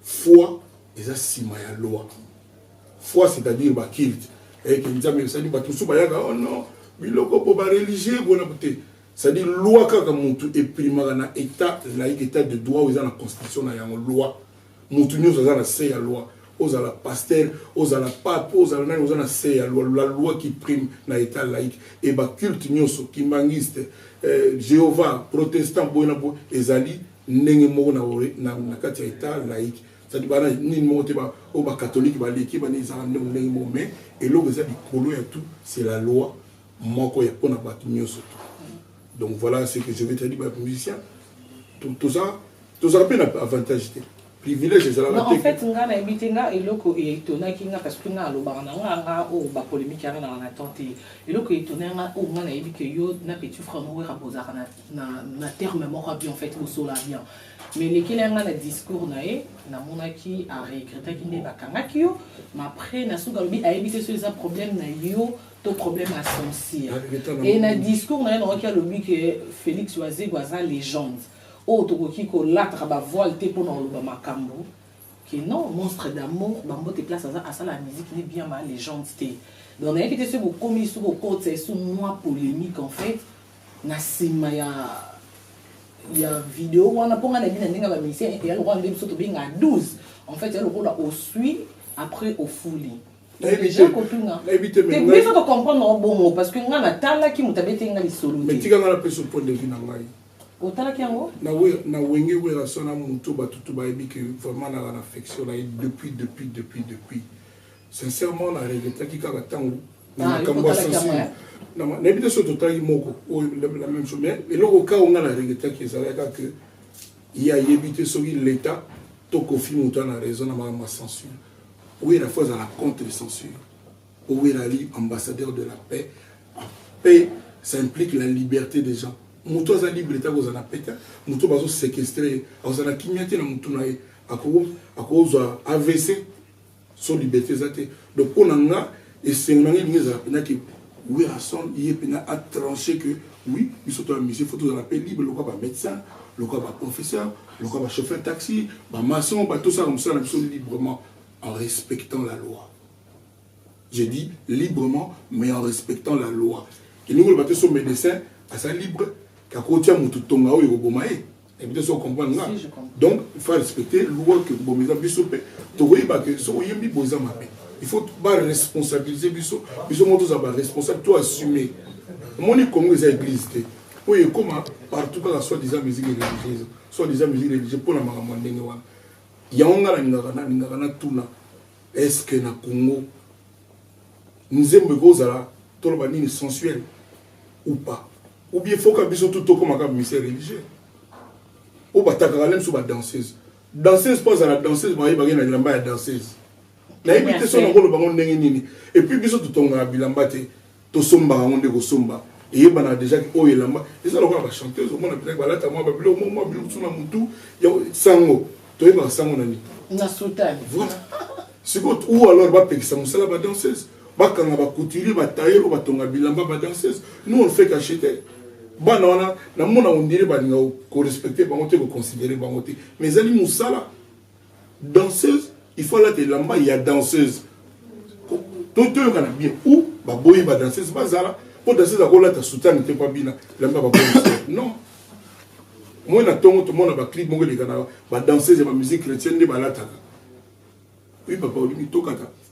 foi eza nsima ya loi Foi c'est à dire ba culte eh que nzambe c'est à dire bato mosusu bayaka oh non biloko po ba religieux bona te c'est à dire loi kaka mutu eprimaka na état laïque état de droit oyo eza na constitution na yango loi mutu nyonso aza na se ya loi ozala pasteur ozala pape ozala nani oza na se ya loi la loi qui prime na état laïque et ba culte nyonso kimbanguiste eh, jéhovah protestant boye na boye ezali ndenge moko na, na, na kati ya état laïque cest bana nini moko te oyo ba catholique baleki bana ezaka ndenge ndenge moko mais eloko eza likolo ya tout c'est la loi moko ya pona bato nyonso tout donc voilà ce que je vais te dire ba musicien toza tozala mpe na avantage te privilège ezalaka te en fait nga na yebi te nga eloko etonaki nga parce que nga alobaka na nga nga oyo ba polémique yanga na na temps te eloko etona nga oyo nga na yebi que yo na petit frère moko ya bozaka na na terme moko bien en fait bosola bien Mais elekeli yanga na discours na ye namonaki a regrettaki nde bakangaki yo mais après na suka alobi ayebi te so eza problème na yo to problème ya censure et na discours na ye naoki alobi ke félix wazego aza légende oyo tokoki kolataka bavoile te mpo na koloba makambo que non monstre d'amour bambote place aza asala ya musique ne bien ma légende te donc nayaki te soki bokomi soki okotisa esu mwa polémique en fait na sima ya ya video wana mpo ngai nayebi na ndenge ya bamisien ete ya lokola nde biso tobenga 12 en fait ya lokola osui après ofuli biso tocomprendre yango bongo parce que ngai natalaki moto abeteli ngai lisolo te tika ngai napesa point de vue na ngai otalaki yango na wenge werasona moto batutu bayebi ke vraiment nala na affection na ye depuis depuis depuis depuis Sincèrement na regrettaki kaka tango na ah, makambo ya sensible nayebi te soki totalaki moko oyo la même chose mais eloko kao ngai na regrettaki ezalaki kaka que ye ayebi te soki l'état to kofi moto ana raison na makambo ya censure owera fo azala contre censure owera ali ambassadeur de la paix paix ça implique la liberté des gens moto aza libre te akozala na paix te moto bazosekestre ye akozala na kimia te na motu na ye akozwa avc son liberté eza te donc mpo na nga esengo na nga elingi ezala mpena ke werrason ye mpena atranche que oui biso to ya musée fo tozala mpe libre lokola bamédecin lokola baprofesseur lokola bachauffeur taxi bamaçon batosaka mosala na biso librement en respectant la loi je dis librement mais en respectant la loi elingi koloba te so médecin aza libre akotia motu tonga oyo ekoboma ye ebite so comprendre nga donc il faut respecter loi que bomi eza biso mpe tokoyeba ke soki oyembi boza mabe il faut baresponsabilise biso biso moko tozala baresponsable to assume omoni congo eza église te oyo ekóma partout kaka soit disant musique religieuse soit disant musique religieuse mpo na makambo ya ndenge wana yango ngai nalingaka nalingaka natuna est ce que na congo nzembo ekozala toloba nini sensuel ou pas ou bien foka biso tout tokoma kaka mise religieux oyo batakaka lem so badanseuse danseuse mpo azala danseuse bayebaki na bilamba ya danseuse nayebi te so nakoloba ngo ndenge nini epuis biso totongaka bilamba te tosomba yango nde kosomba eyebanaka deja ke oyo elamba eza lokola bachanteuse omona mpenza balata mwa babilo mwa mwa bilokusu na motu yango sango toyebaka sango na nini na sutani voilà sikoyo ou alors bapekisa mosala badanseuse bakanga bacouturier batailleur oyo batonga bilamba badanseuse nous on fait qu'acheter bana wana namona ondire balinga korespecte bango te koconsidere bango te mais ezali mosala danseuse il faut alata elamba ya danseuse to toyokana bien ou baboyi ba danseuse bazala mpo danseuse akolata soutane te mpo abina elamba baboyi non moi na ntongo tomona baclip moko elekana badanseuse ya bamusike chrétienne nde balataka oui papa olimi tokata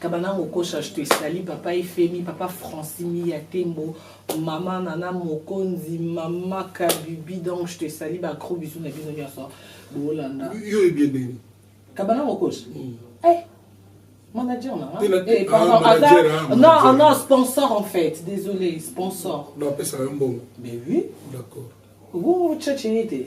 kabanango kosha je te sali papa efemi papa francini ya tembo mama nana mokonzi mama kabibi donc je te sali ba gros bisous na bino nyonso bolanda yo ebie ndenge kabanango kosha mm. eh, manager na eh, pardon, ah, manager, aza, ah, manager. non non sponsor en fait désolé sponsor non apesa yo mbongo mais oui d'accord bongo chache ye te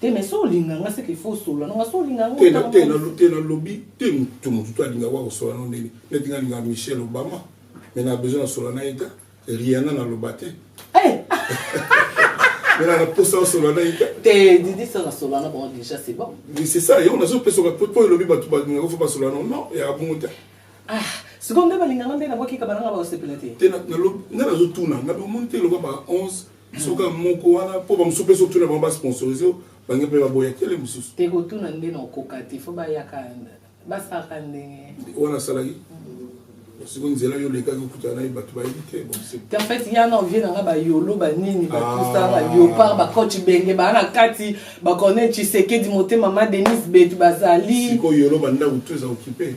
te mais so olinga nga seke fo osola nanga so olinga te nalobi te moto motu to alinga wa kosola no ndenge neti nga linga michel obama me na besoin nasola na ye ta riana naloba te eh! mela na posa osola na ye te didi sa nasola na bango déjà c'est bon c'est ça yango nazopesa po elobi bato balingaka fo basola no non ya bongo te Ah, sikoyo nde balinga nga nde na bwaki kabana nga bakosepela te te nga nazotuna nga omoni te lokola baka 11 soka moko wana mpo bamosusu mpe soki tuna bango basponsorise bange mpe baboya tele mosusu te kotuna nde na okoka te fo bayaka basalaka ndenge wana asalaki siko nzela yo olekaki okutana naye bato bayebi te te fait ya na ovie nanga bayolo banini batusa baliopar ah. bacoach benge baa na kati bacornel tshisekedi motema ma denise betu bazali sikoyo yolo bandako to eza okipe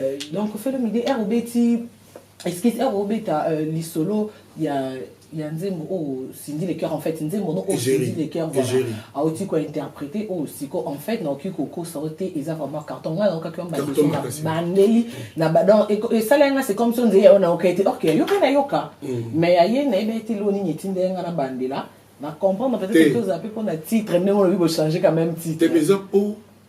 Euh, donc felo midi ere obeti excuse ere obeta euh, lisolo ya ya nzembo oyo cindy le cœur en fait nzembo no oyo cindy le cœur voilà aoki kointerprete oyo siko en fait naoki kokosa yo te eza vraiment carton ngai naokaki yo mbadiso na bandeli na badon esala yanga c'est comme so nzeli yayo nayoka ete ok yoka nayoka mm. mais ya ye nayebi ete lo nini etinda ye ngai na bandela na comprendre peut-être toza mpe mpo na titre ndenge olobi bochange quand même titre te mais eza mpo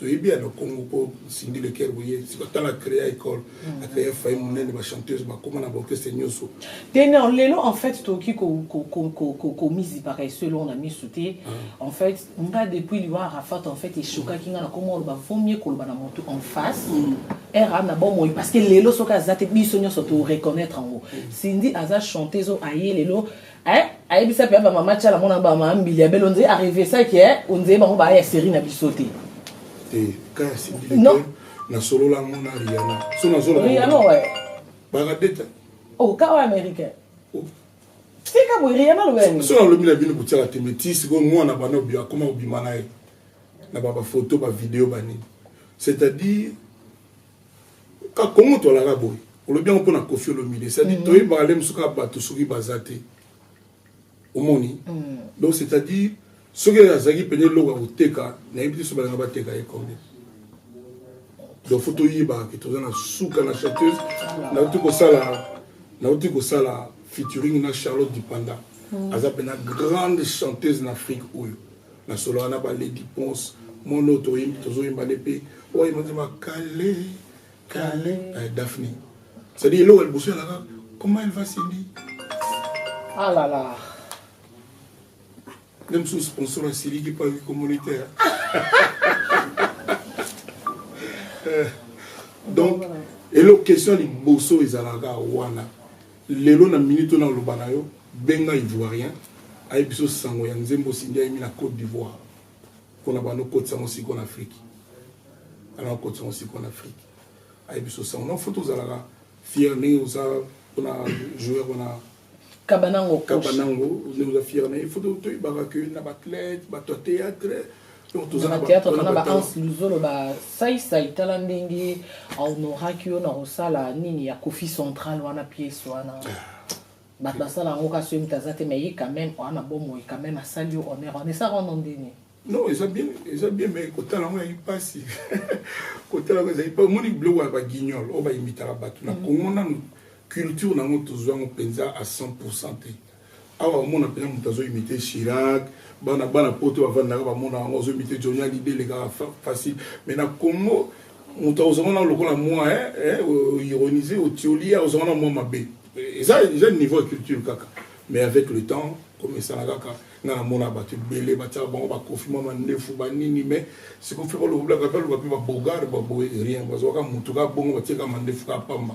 toyebi ya na congo mpo sindi leker boye sikoyo tala créa école mm. acréa fai monene bachanteuse bakoma na baorchestre nyonso te non lelo en fait tokoki komizipaka eso elongo na miso te ah. en fait nga depuis liwa arafat en fait eshokaki nga na koma oloba vomie koloba na motu en face mm. era na bomoi parce que lelo soki aza te biso nyonso to reconnaître yango mm. sindi aza chanteuse aye lelo eh ayebisa pe ba mama chala mona ba mama mbili ya belo nze arrive ça que eh, onze bango ba ya série na biso te eh kaya sibili non na solo la mona Rihanna so na solo Rihanna ouais baradeta oh kawa américain oh. tika boye Rihanna lobela so na lobi na bino kotiaka te mais ti sikoyo mwana bana obi akoma kobima na ye na ba bafoto bavideo banini c'est-à-dire ka kongo tolaka boye olobi yango mpona kofi olomide cest dire mm. toyebaka le mosusu kaka bato soki baza te omoni mm. donc c'est à dire soki azalaki mpene eloko ya koteka nayebi te so balinga bateka ye combien donc fo toyebaka ke toza na suka na chanteuse nauti kosala nauti kosala featuring na charlotte dipanda mm. aza mpena grande chanteuse na afrique oyo nasolaka na ba lady ponce mwana oyo toyembi tozoyemba nde mpe oyo yemba nzemba kale kale eh, daphne cestadire eloko ya liboso yalaka comment elle va cindy alala ah nde mosusu sponsor asiliki mpo ayoki komonite eh, donc eloko question ya liboso ezalaka wana Lelo na minute oyo nakoloba na yo, benga Ivoirien ayebisa yo sango ya nzembo Cindy ayembi na Cote d'Ivoire mpo na banda okotisa yango sikoyo na Afriki. Banda okotisa yango sikoyo na Afriki. Ayebisa yo sango. Donc faut tozalaka fier ndenge oza mpo na joueur wana Kabanango Coach. Kabanango ndenge oza fier na ye. Faut toyebaka que na ba athlètes, bato ya théâtre, na theatre tona ba ans luzolo ba sai sai tala ndenge aonoraki yo na kosala nini ya kofi central wana pièce wana bato basala yango kasi oyebi taza te mais ye quand même oa na bomoi quand même asali yo honneur wana esaka wana ndeni non eza bien eza bien mais kotala yango ezali mpasi kotala yango ezali mpa omoni biloko ya baguignol oyo bayimitaka bato na kongo mm. nanu culture na yango tozwa yango mpenza a 100 pourcent te Awa omona pena mutu azo imite Chirac, bana bana poto bavandaka bamona yango azo imite Johnny Hallyday elekaka facile mais na Congo mutu akozwa wana lokola mwa eh, eh, ironise otioli ye akozwa wana mwa mabe eza eza niveau ya culture kaka mais avec le temps comme esala kaka nga namona bato ebele batiaka bango bakofi mwa mandefu banini mais sikofi baloblaka baloba mpe babogar baboye rien bazwaka motu kaka bongo batiaka mandefu kaka pamba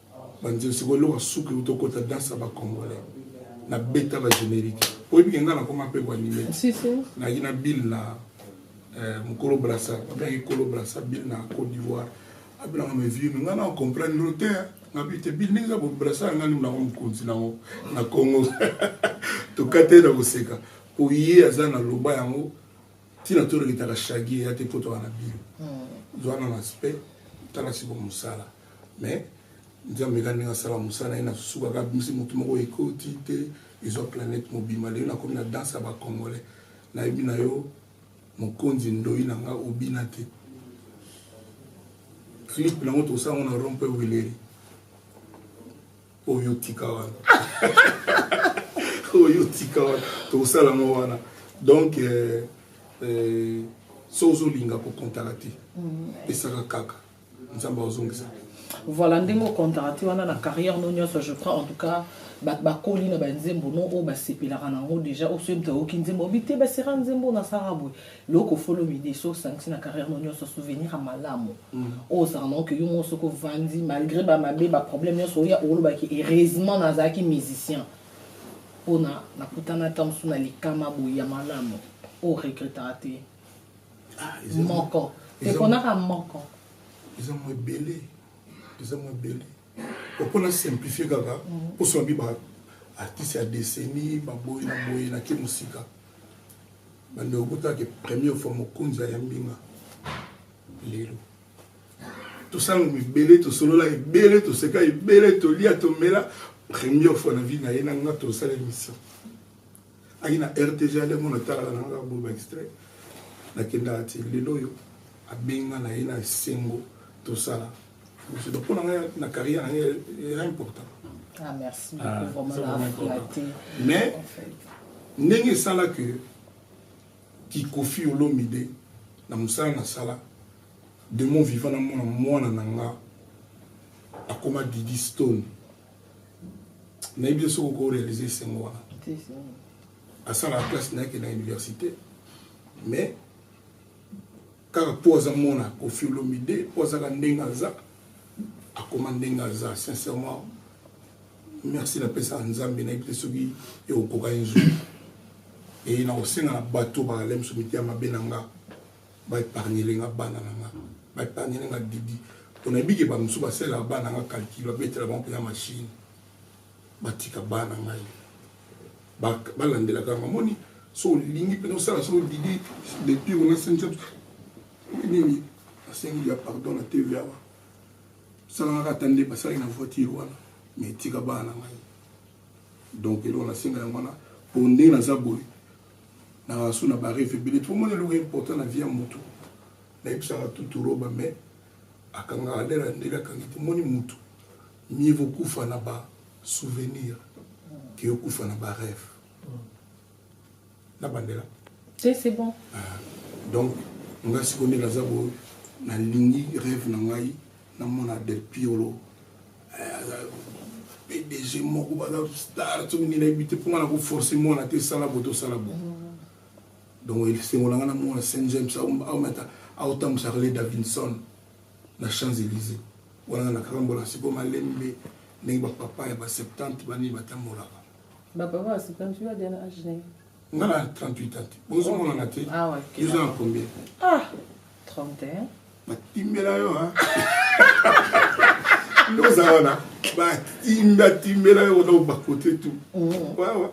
banzelu sikoyo eloko suki uto kota danse ya bacongolais na beta ba générique oyebi ke ngai nakoma mpe koanime nayaki na bile na eh, mokolo brasa abengaki kolo brasa bile na côte d'ivoire abelanga mevimi ngai na comprendre lo te ngabi te bile ndenge eza bobrasa ya ngai ndimo nango mokonzi nango na congo tokate na koseka mpo ye aza na loba yango ntina toleketaka shagi eya te mpo toka na bile hmm. zwana na aspect tala siko mosala mais nzambe kaka ndenge asala mosala na ye na susukaka abimisi motu moko ekoti te ezwa planète mobima lelo nakomi na danse ya bacongolais nayebi na yo mokonzi ndoi na nga obina te clip nango tosala ngo na rompe wileri oyo otika wana oyo otika wana tosala ngo wana donc euh, euh, so ozolinga kokontaka te mm. pesaka kaka nzambe azongisa voilà ndenge okontaka ti wana na carrière no nyonso je crois en tout cas bato bakoli na banzembo no oyo basepelaka na yango déjà oyo soki moto ayoki nzembo obi te basera nzembo na sara boye loko folo mide so osangisi na carrière no nyonso souvenir ya malamu mm. oyo ozalaka na oke yo moko soki ovandi malgré bamabe baproblème nyonso oya olobaki heureusement nazalaki musicien mpona nakutana ta mosusu na likama boye ya malamu oyo regrettaka te ah, moko eponaka moko eza mwa ebele eza mwa ebele opona simplifie kaka mposo mhm. babi baartiste ya deseni baboyi na boye nake mosika bande okutaki première fois mokonzi ya mbinga lelo tosala mibele tosolola ebele toseka ebele tolia tomela première fois na vie na ye na nga tosala émission ayi na rtg alengo natalaka na kaka boba extrait nakendaka ti lelo oyo abenga na ye na esengo tosala donc mpo na ngai na carrière na ngai eza important ah, ah, mais ndenge esala ke kikofi olomide na mosala nasala de mon vivant namona mwana na nga akoma didi stone nayebi yo soki oko réalise esengo wana asalaka classe na yeke na université mais kaka mpo aza mona kofi olomide mpo azaka ndenge aza akoma ndenge aza sincèrement merci napesaka nzambe nayebi te soki ekokoka ye nzoi eye nakosenga na bato bakalemi so mitema mabe na nga ba epargnele nga bana na nga ba epargnele nga didi pona yebi ke ba mosusu ba salelaka bana na nga calcul ba betela bango pena machine ba tika bana ngai ba landelaka nga moni so olingi pena osala so didi depuis ona sencha nini asengi ya pardon na tv awa salangaka ata nde basalaki na voiture wana me etika bana na ngai donc eloko nasenga yango wana po ndenge naza boye na rasu na ba reve ebele tomoni eloko important na vie ya motu nayebisaka tuturoba me akangaka ndela ndele akangi tomoni motu mieux vaut kufa na ba souvenir ke okufa na ba reve na bandela c'est bon ah, donc nga sikoyo nde naza boyo nalingi reve na ngai namona del piolo eh, aza pdg moko baza star soki nini nayebi te mpo nga na koforce mwana te sala bo tosala bo donc esengo na nga na mwana saint james aomata aotambwisa rele davinson na champs élysée wana nga nakarambola siko malembe ndenge bapapa ya ba 70 banini batambolaka bapapa ya 70 yo adena age nga na 38 ans te bozomonana te eza na combien ah 31 batimbela yo ndoza wana batimba timbela yo wana bakote tu wawa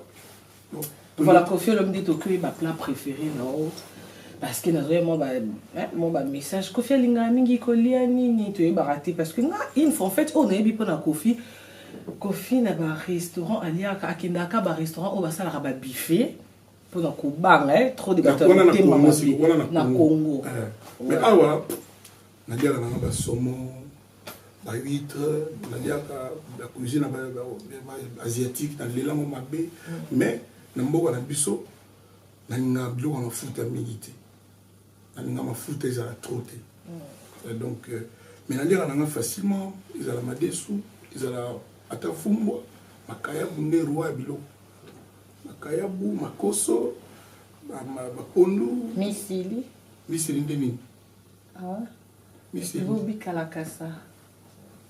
mm. voilà kofi olomide tokoyi baplat préféré na yo parce que nazoya mwa bamessage kofi alingaka mingi kolia nini toyebaka te parce que nga une fois en fait oyo nayebi mpo na kofi Koffi na ba restaurant aliaka akendaka ka ba restaurant oyo basalaka ba buffet pona kobanga eh, trop de bato ya motema mabe na Congo. Eh, mais awa naliaka nanga ba saumon ba huître naliaka ba cuisine ba asiatique na lelango mabe mm. mais na mboka na biso nalingaka biloko ya mafuta mingi te. nalinga mafuta ezala trop te mm. donc euh, mais naliaka nanga facilement ezala madesu ezala ata fumbwa makayabu nde roi ya biloko makayabu makoso bapondu misili misili nde nini ah. misili bobikalakasa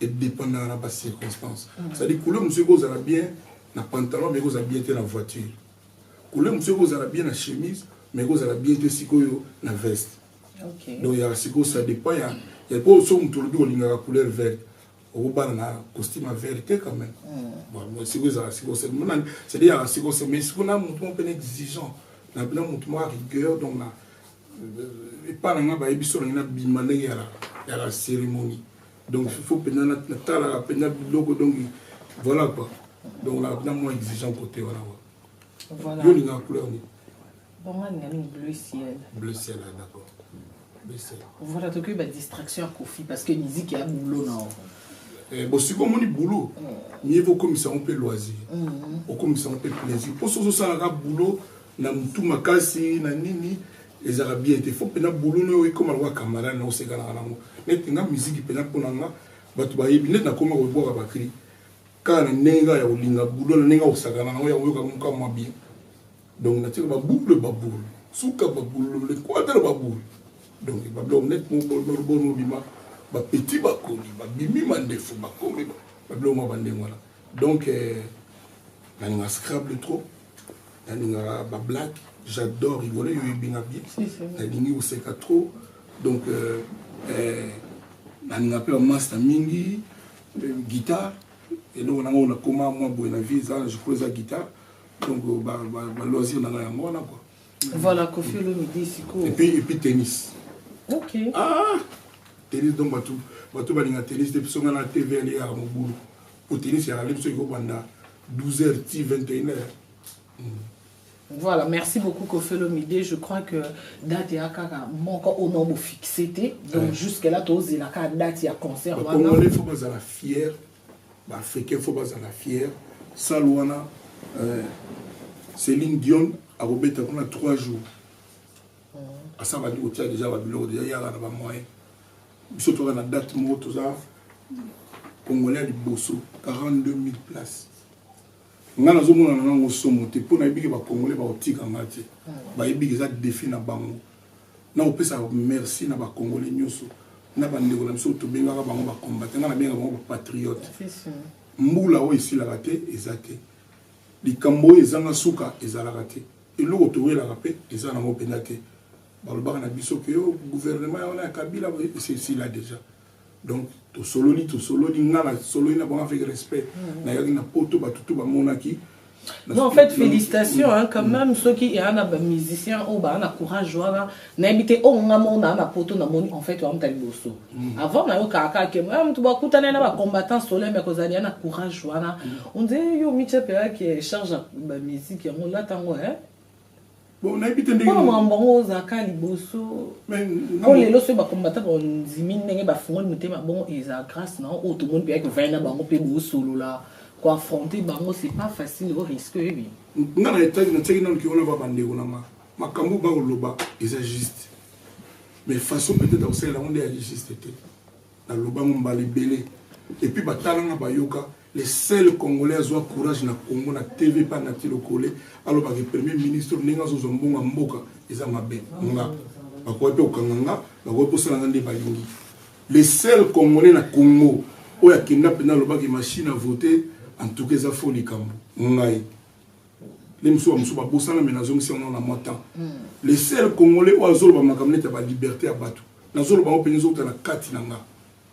E dependaka na ba circonstances. C'est à dire couleur mosusu eko zala bien na pantalon mais eko zala bien te na voiture. Couleur mosusu eko zala bien na chemise mais eko zala bien te sikoyo na veste. Okay. Donc ya sikoyo ça dépend ya ya po so moto olobi olingaka couleur verte. Obana na costume ya vert te quand même. Hmm. Bon, sikoyo ezala sikoyo c'est monani. C'est à dire ya sikoyo c'est mais sikoyo na moto mpe exigeant. Na bina moto mwa rigueur donc na euh, epa na nga bayebi so na ngai na bima ndenge ya la ya la cérémonie. donc il faut mpenza natalaka mpenza biloko donc voilà quoi donc na na mwa exigeant côté wana wa Voilà. yo olingaka couleur nini Bon, nga ninga mingi bleu ciel. bleu ciel ah, d'accord bleu ciel Voilà, tokoki ba distraction ya Kofi parce que musique ya boulot na yango. Eh, bosiko omoni boulot mieux vaut okomisa yango mpe loisir okomisa yango mpe plaisir mpo soki ozosalaka boulot na motu makasi na nini ezalaka bien te fo mpena boulot no ekoma lokola camarade na osekanaka nango neti nga miziki mpena mpo na nga bato bayebi neti nakoma kobwaka bakri kaka na ndenge kaka ya kolinga boulot na ndenge akosakana nango ya koyoka moka mwa bien donc natika baboule baboule suka baboule lekwatela baboule donc babiloko neti moboni obima bapeti bakoli babimi mandefu bakomi babiloko mwa bandenge wana donc euh, nalinga scrable trop nalingaka ba black j'adore rigole yo ebinga bien nalingi koseka trop donc euh, euh, nalinga mpe bamasta mingi euh, guitare eloko nanga oyo nakoma mwa boye na vie eza je crois eza guitare donc baloisir nanga yango wana kua voilà kofi olomide sikoyo epuis tennis ok ah tennis donc bato balinga tennis te biso nga na tv aliyaka mobulu Otenis ya Raleigh soki kobanda 12h ti 21h. Voilà, merci beaucoup Kofelo Mide. Je crois que date ya kaka moko au nom fixé te. Donc ouais. jusque là tous la ka date ya concert wana. Ba Congolais faut pas la fière. Ba Africains faut pas la fière. Salle wana euh, Céline Dion a robeta kuna 3 jours. Mm. Asa ba déjà ba biloko déjà ya na ba moyens. biso toza na date moko toza congolais ya liboso 42000 place ngai nazomonana nango somo te mpo nayebiki bacongolais bakotika ngai te bayebiki eza defi na bango na kopesa merci na bacongolais nyonso na bandeko na biso tobengaka bango bacombate ngai nabengaka bango bapatriote mbula oyo esilaka te eza te likambo oyo ezanga suka ezalaka te eloko towelaka mpe eza nango mpenza te balobaka na biso ke yo gouvernement ya wana ya kabila esila deja donc tosololi tosololi nga nasololi na bango avec respect mm. nayaki na poto bato to bamonaki Non, en fait, félicitations hein, quand mm. même, ceux qui sont des musiciens, oh, bah, on a courage, voilà. N'habitez au moins, on a un poteau, on en fait, on a un bosso. Mm. Avant, on a eu caca, qui est même, tu vois, quand on a un combattant solaire, mais qu'on a un courage, voilà. Mm. On dit, yo, Mitchell Pera qui charge la musique, on l'a tango, hein. bon nayebi te ndenge makambo yango ozalaka liboso mpo lelo soki bakombata bandimi ndenge bafungoli motema bongo eza grâce na oyo tomoni mpe kovaya na bango mpe bosolola koaffronte bango c'est pas facile o risque oyebi nga na etage natiaki nano kiwana va bandeko na nga makambo bakoloba eza juste mais façon peut-être akosalela yango nde ya juste te nalobango mbala ebele epuis batalanga bayoka Le seul congolais azua courage na congo na TV epa Naty Lokole aloba ke premier ministre ndenge azo zua mbongo ya mboka eza mabe nga bakoki pe kokanga nga bakoki kosala nga nde balingi le seul congolais na congo oyo akenda mpenza alobaki machine a vote en tout cas eza fo likambo ngai nde mosusu bamosusu babosana me nazongisi yango na mwa temps hmm. le seul congolais oyo azoloba makambo neti ya baliberté ya bato nazoloba yango mpenza ezokutana kati na ngai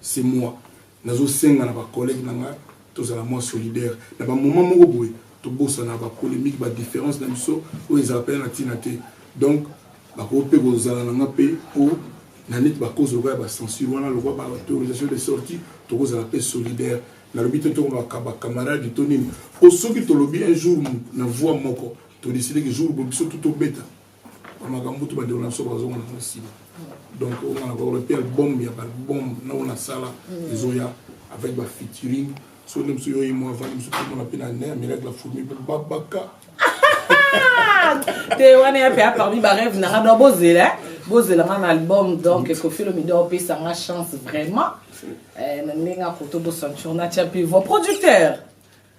C'est moi nazo senga na ba collegues na nga tozala mua solidaire na ba moment moko boye tobosana ba polemique ba difference na biso oyo ezala pena na tina te donc bakoki pe kozala na nga pe po na neti ba cause lokola ya ba censure wana lokola ba autorisation de sortie tokozala pe solidaire nalobi te tokolobaka ba camarade to nini po soki tolobi un jour na voix moko to decide que jour boye biso tout tobeta makambo tu bandeko na biso bazonga na nsima donc onga na baola mpe album ya baalbum na oyo nasala mm. ezoya avec bafeaturing so nde mosusu yoye mwa avandi mosusu komona mpe na ne amelaki bafourmi mpe babaka te wana ya mpe a parmi bareve nanga do bozela bozela nga na album donc mm. kofilo mido opesa nga chance vraiment eh, na ndenge akoto bosanture natya mpe vo producteur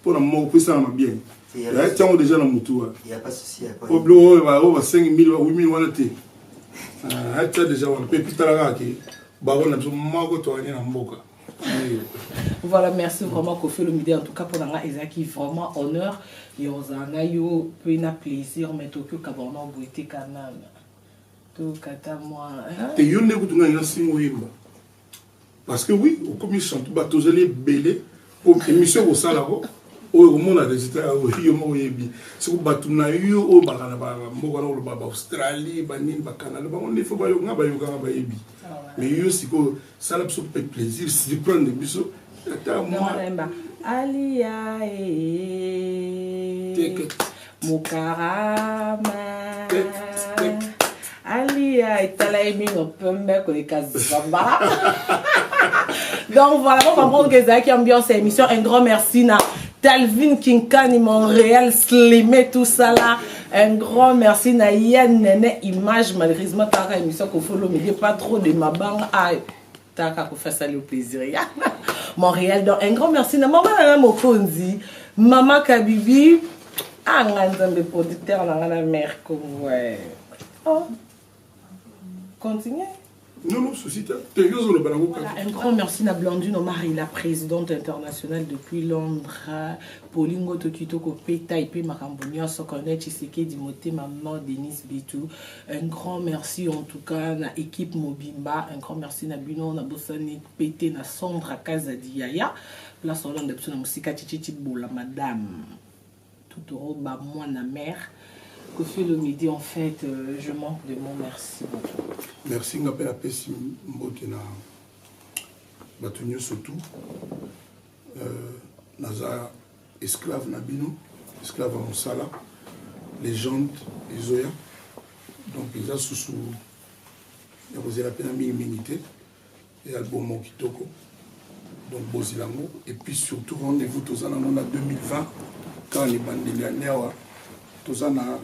mpo na moko mpo esalama bien tiango deja na motu wana po biloko oyo baoyo basengi mili bawi mili wana te atia deja wana mpe pitala kaka ke bango na biso moko toyani na mboka voilà merci vraiment kofi olomide en tout cas mpona ngai ezalaki vraiment honneur ya ozala na yo mpe na plaisir mais toki okaba wana oboye te quand même tokata mwa te yo nde kutu ngai nasinga oyemba parce que oui okomi chantu bato tozali ebele po émission ekosala ko oyo okomona résultat yango yo moko oyebi soko bato na yo oyo bakana bamboka na koloba baaustralie banini bacanada bango nde fo bayokanga bayokanga bayebi mais yo sikoyo sala biso mpe plaisir surprendre biso ata mwa aliya ee Mukarama Alia etala ye mino pembe koleka zamba donc voilà bocomprendre que ezalaki ambiance ya émission un grand merci na Talvin Kinkani, Montréal, Slimé, tout ça là. Un grand merci na Yann Nene Image, malheureusement, t'as une émission qu'on follow, mais pas trop de ma banque. taka kofi asali yo plaisir ya montréal donc un grand merci na mama nanga mokonzi mama kabibi anga ah, nzambe producteur na nga na mare congo oh. continue Non, non, souci, voilà, Un grand merci à Blandine Omar, la présidente internationale depuis Londres. Paulingo Tokito Kopeta, Ipe Makambo Nyonso, Cornet Chiseke, Dimothée, Maman, Denise Bitou. Un grand merci en tout cas na équipe mobimba. Un grand merci na bino na bosani pete na Sandra Kazadi Yaya. Place au de psona musika chichichi bola madame. Tout au ba moi na mère. Que fait le midi en fait euh, je manque de mots merci beaucoup. Merci ngapel a pesi mbote na bato surtout euh, naza esclave na bino esclave ya mosala legende ezoya donc eza susu ya kozela mpena mingimingi te ya album moko kitoko donc bozela yango et puis surtout rendez-vous toza nango na 2020 kaka na ebandeli ya neawa toza na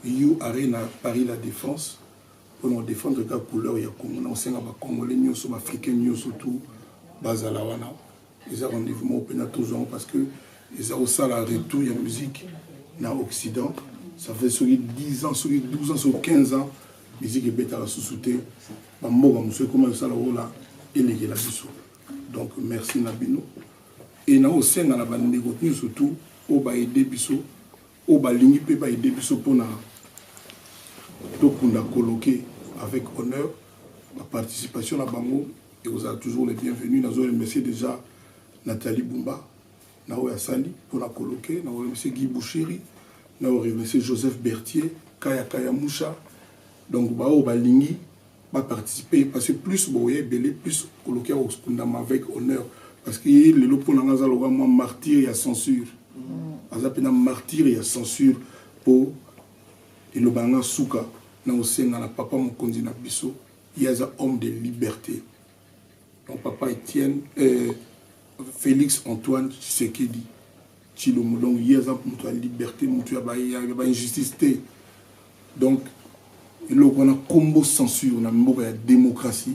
u arena paris la défense mpona kodefendre kaka couleur ya congo na kosenga bacongolais nyonso baafricain nyonso tout bazala wana eza rendez vous moko mpena tozwa yango parce que eza kosala retour ya musique na occident ça fait soki 10 ans soki 12 ans soki 15 ans musique ebetaka susu te bamboka mosusu ekoma kosala ola elekela biso donc merci na bino e nakosenga na bandeko nyonso tout oyo baede biso oyo balingi pe ba aider biso pona tokunda coloque avec honneur ba participation na bango ekozala toujours le bienvenu nazo remercier dejà Nathalie Bumba na oyo asali pona coloque na remercier Guy Bouchiri na remercier Joseph Bertier Kaya Kaya Musha donc baoyo balingi ba participer parce que plus boye ebele plus koloki ya kokundama avec honneur parce que ye lelo mpo na nga aza lokola mwa martyr ya censure mm. aza mpe na martyr ya censure mpo eloba na nga suka na kosenga na papa mokonzi na biso ye aza homme de liberté donc papa etienne euh, félix antoine tshisekedi Tshilombo donc ye aza mutu ya liberte mutu ya ba injustice te donc eloko wana kombo censure na mboka ya démocratie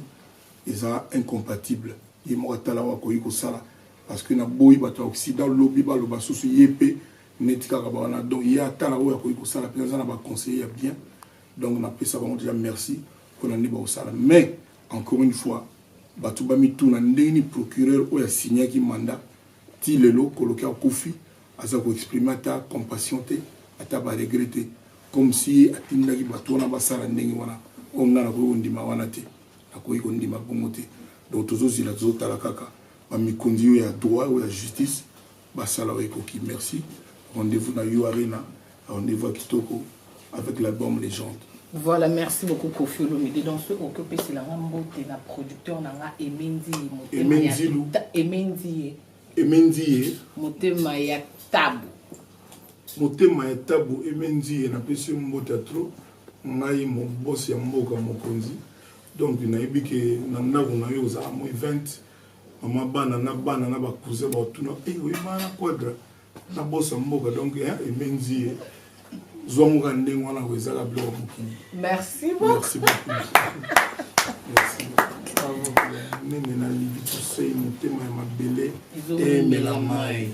eza incompatible ye moko atala oyo akoki kosala parce que naboyi bato ya occident lobi baloba susu ye mpe neti kaka bawana donc ye atala oyo akoki kosala mpe aza na baconseiller ya bien donc napesa bango deja merci mpona nde bakosala mais encore une fois bato bamituna ndenge nini procureur oyo asignaki mandat Ti lelo koloki akufi aza ko exprimer ata compassion te ata ba regret te comme si ye atindaki batu wana basala ndenge wana oyo nga nakoki kondima wana te nakoki kondima bongo te donc tozo zela tozo tala kaka ba mikonzi yo ya droit ou ya justice basala oyo ekoki merci rendez-vous na U-Arena Rendez-vous à Kitoko avec l'album Légende. Voilà, merci beaucoup Kofi Olomide. Donc, ce qu'on peut c'est la mbote, la producteur, la Emendi, Emendi, Emendi, Emendi, Motema ya tabu. Motema ya tabu, Emendi, na pesi mbote trop. Ngai mon boss ya mboka mokonzi. Donc, nayebi ke na ndako na yo ozala mo event. Mama bana na bana na ba cousin ba tuna, eh oui, bana quadra. na bosa mboka donc hein, emenzi ye zwa ngo ka ndenge wana ko ezaka biloko mokili merci beaucoup nene na libitusei motema ya mabele emela mai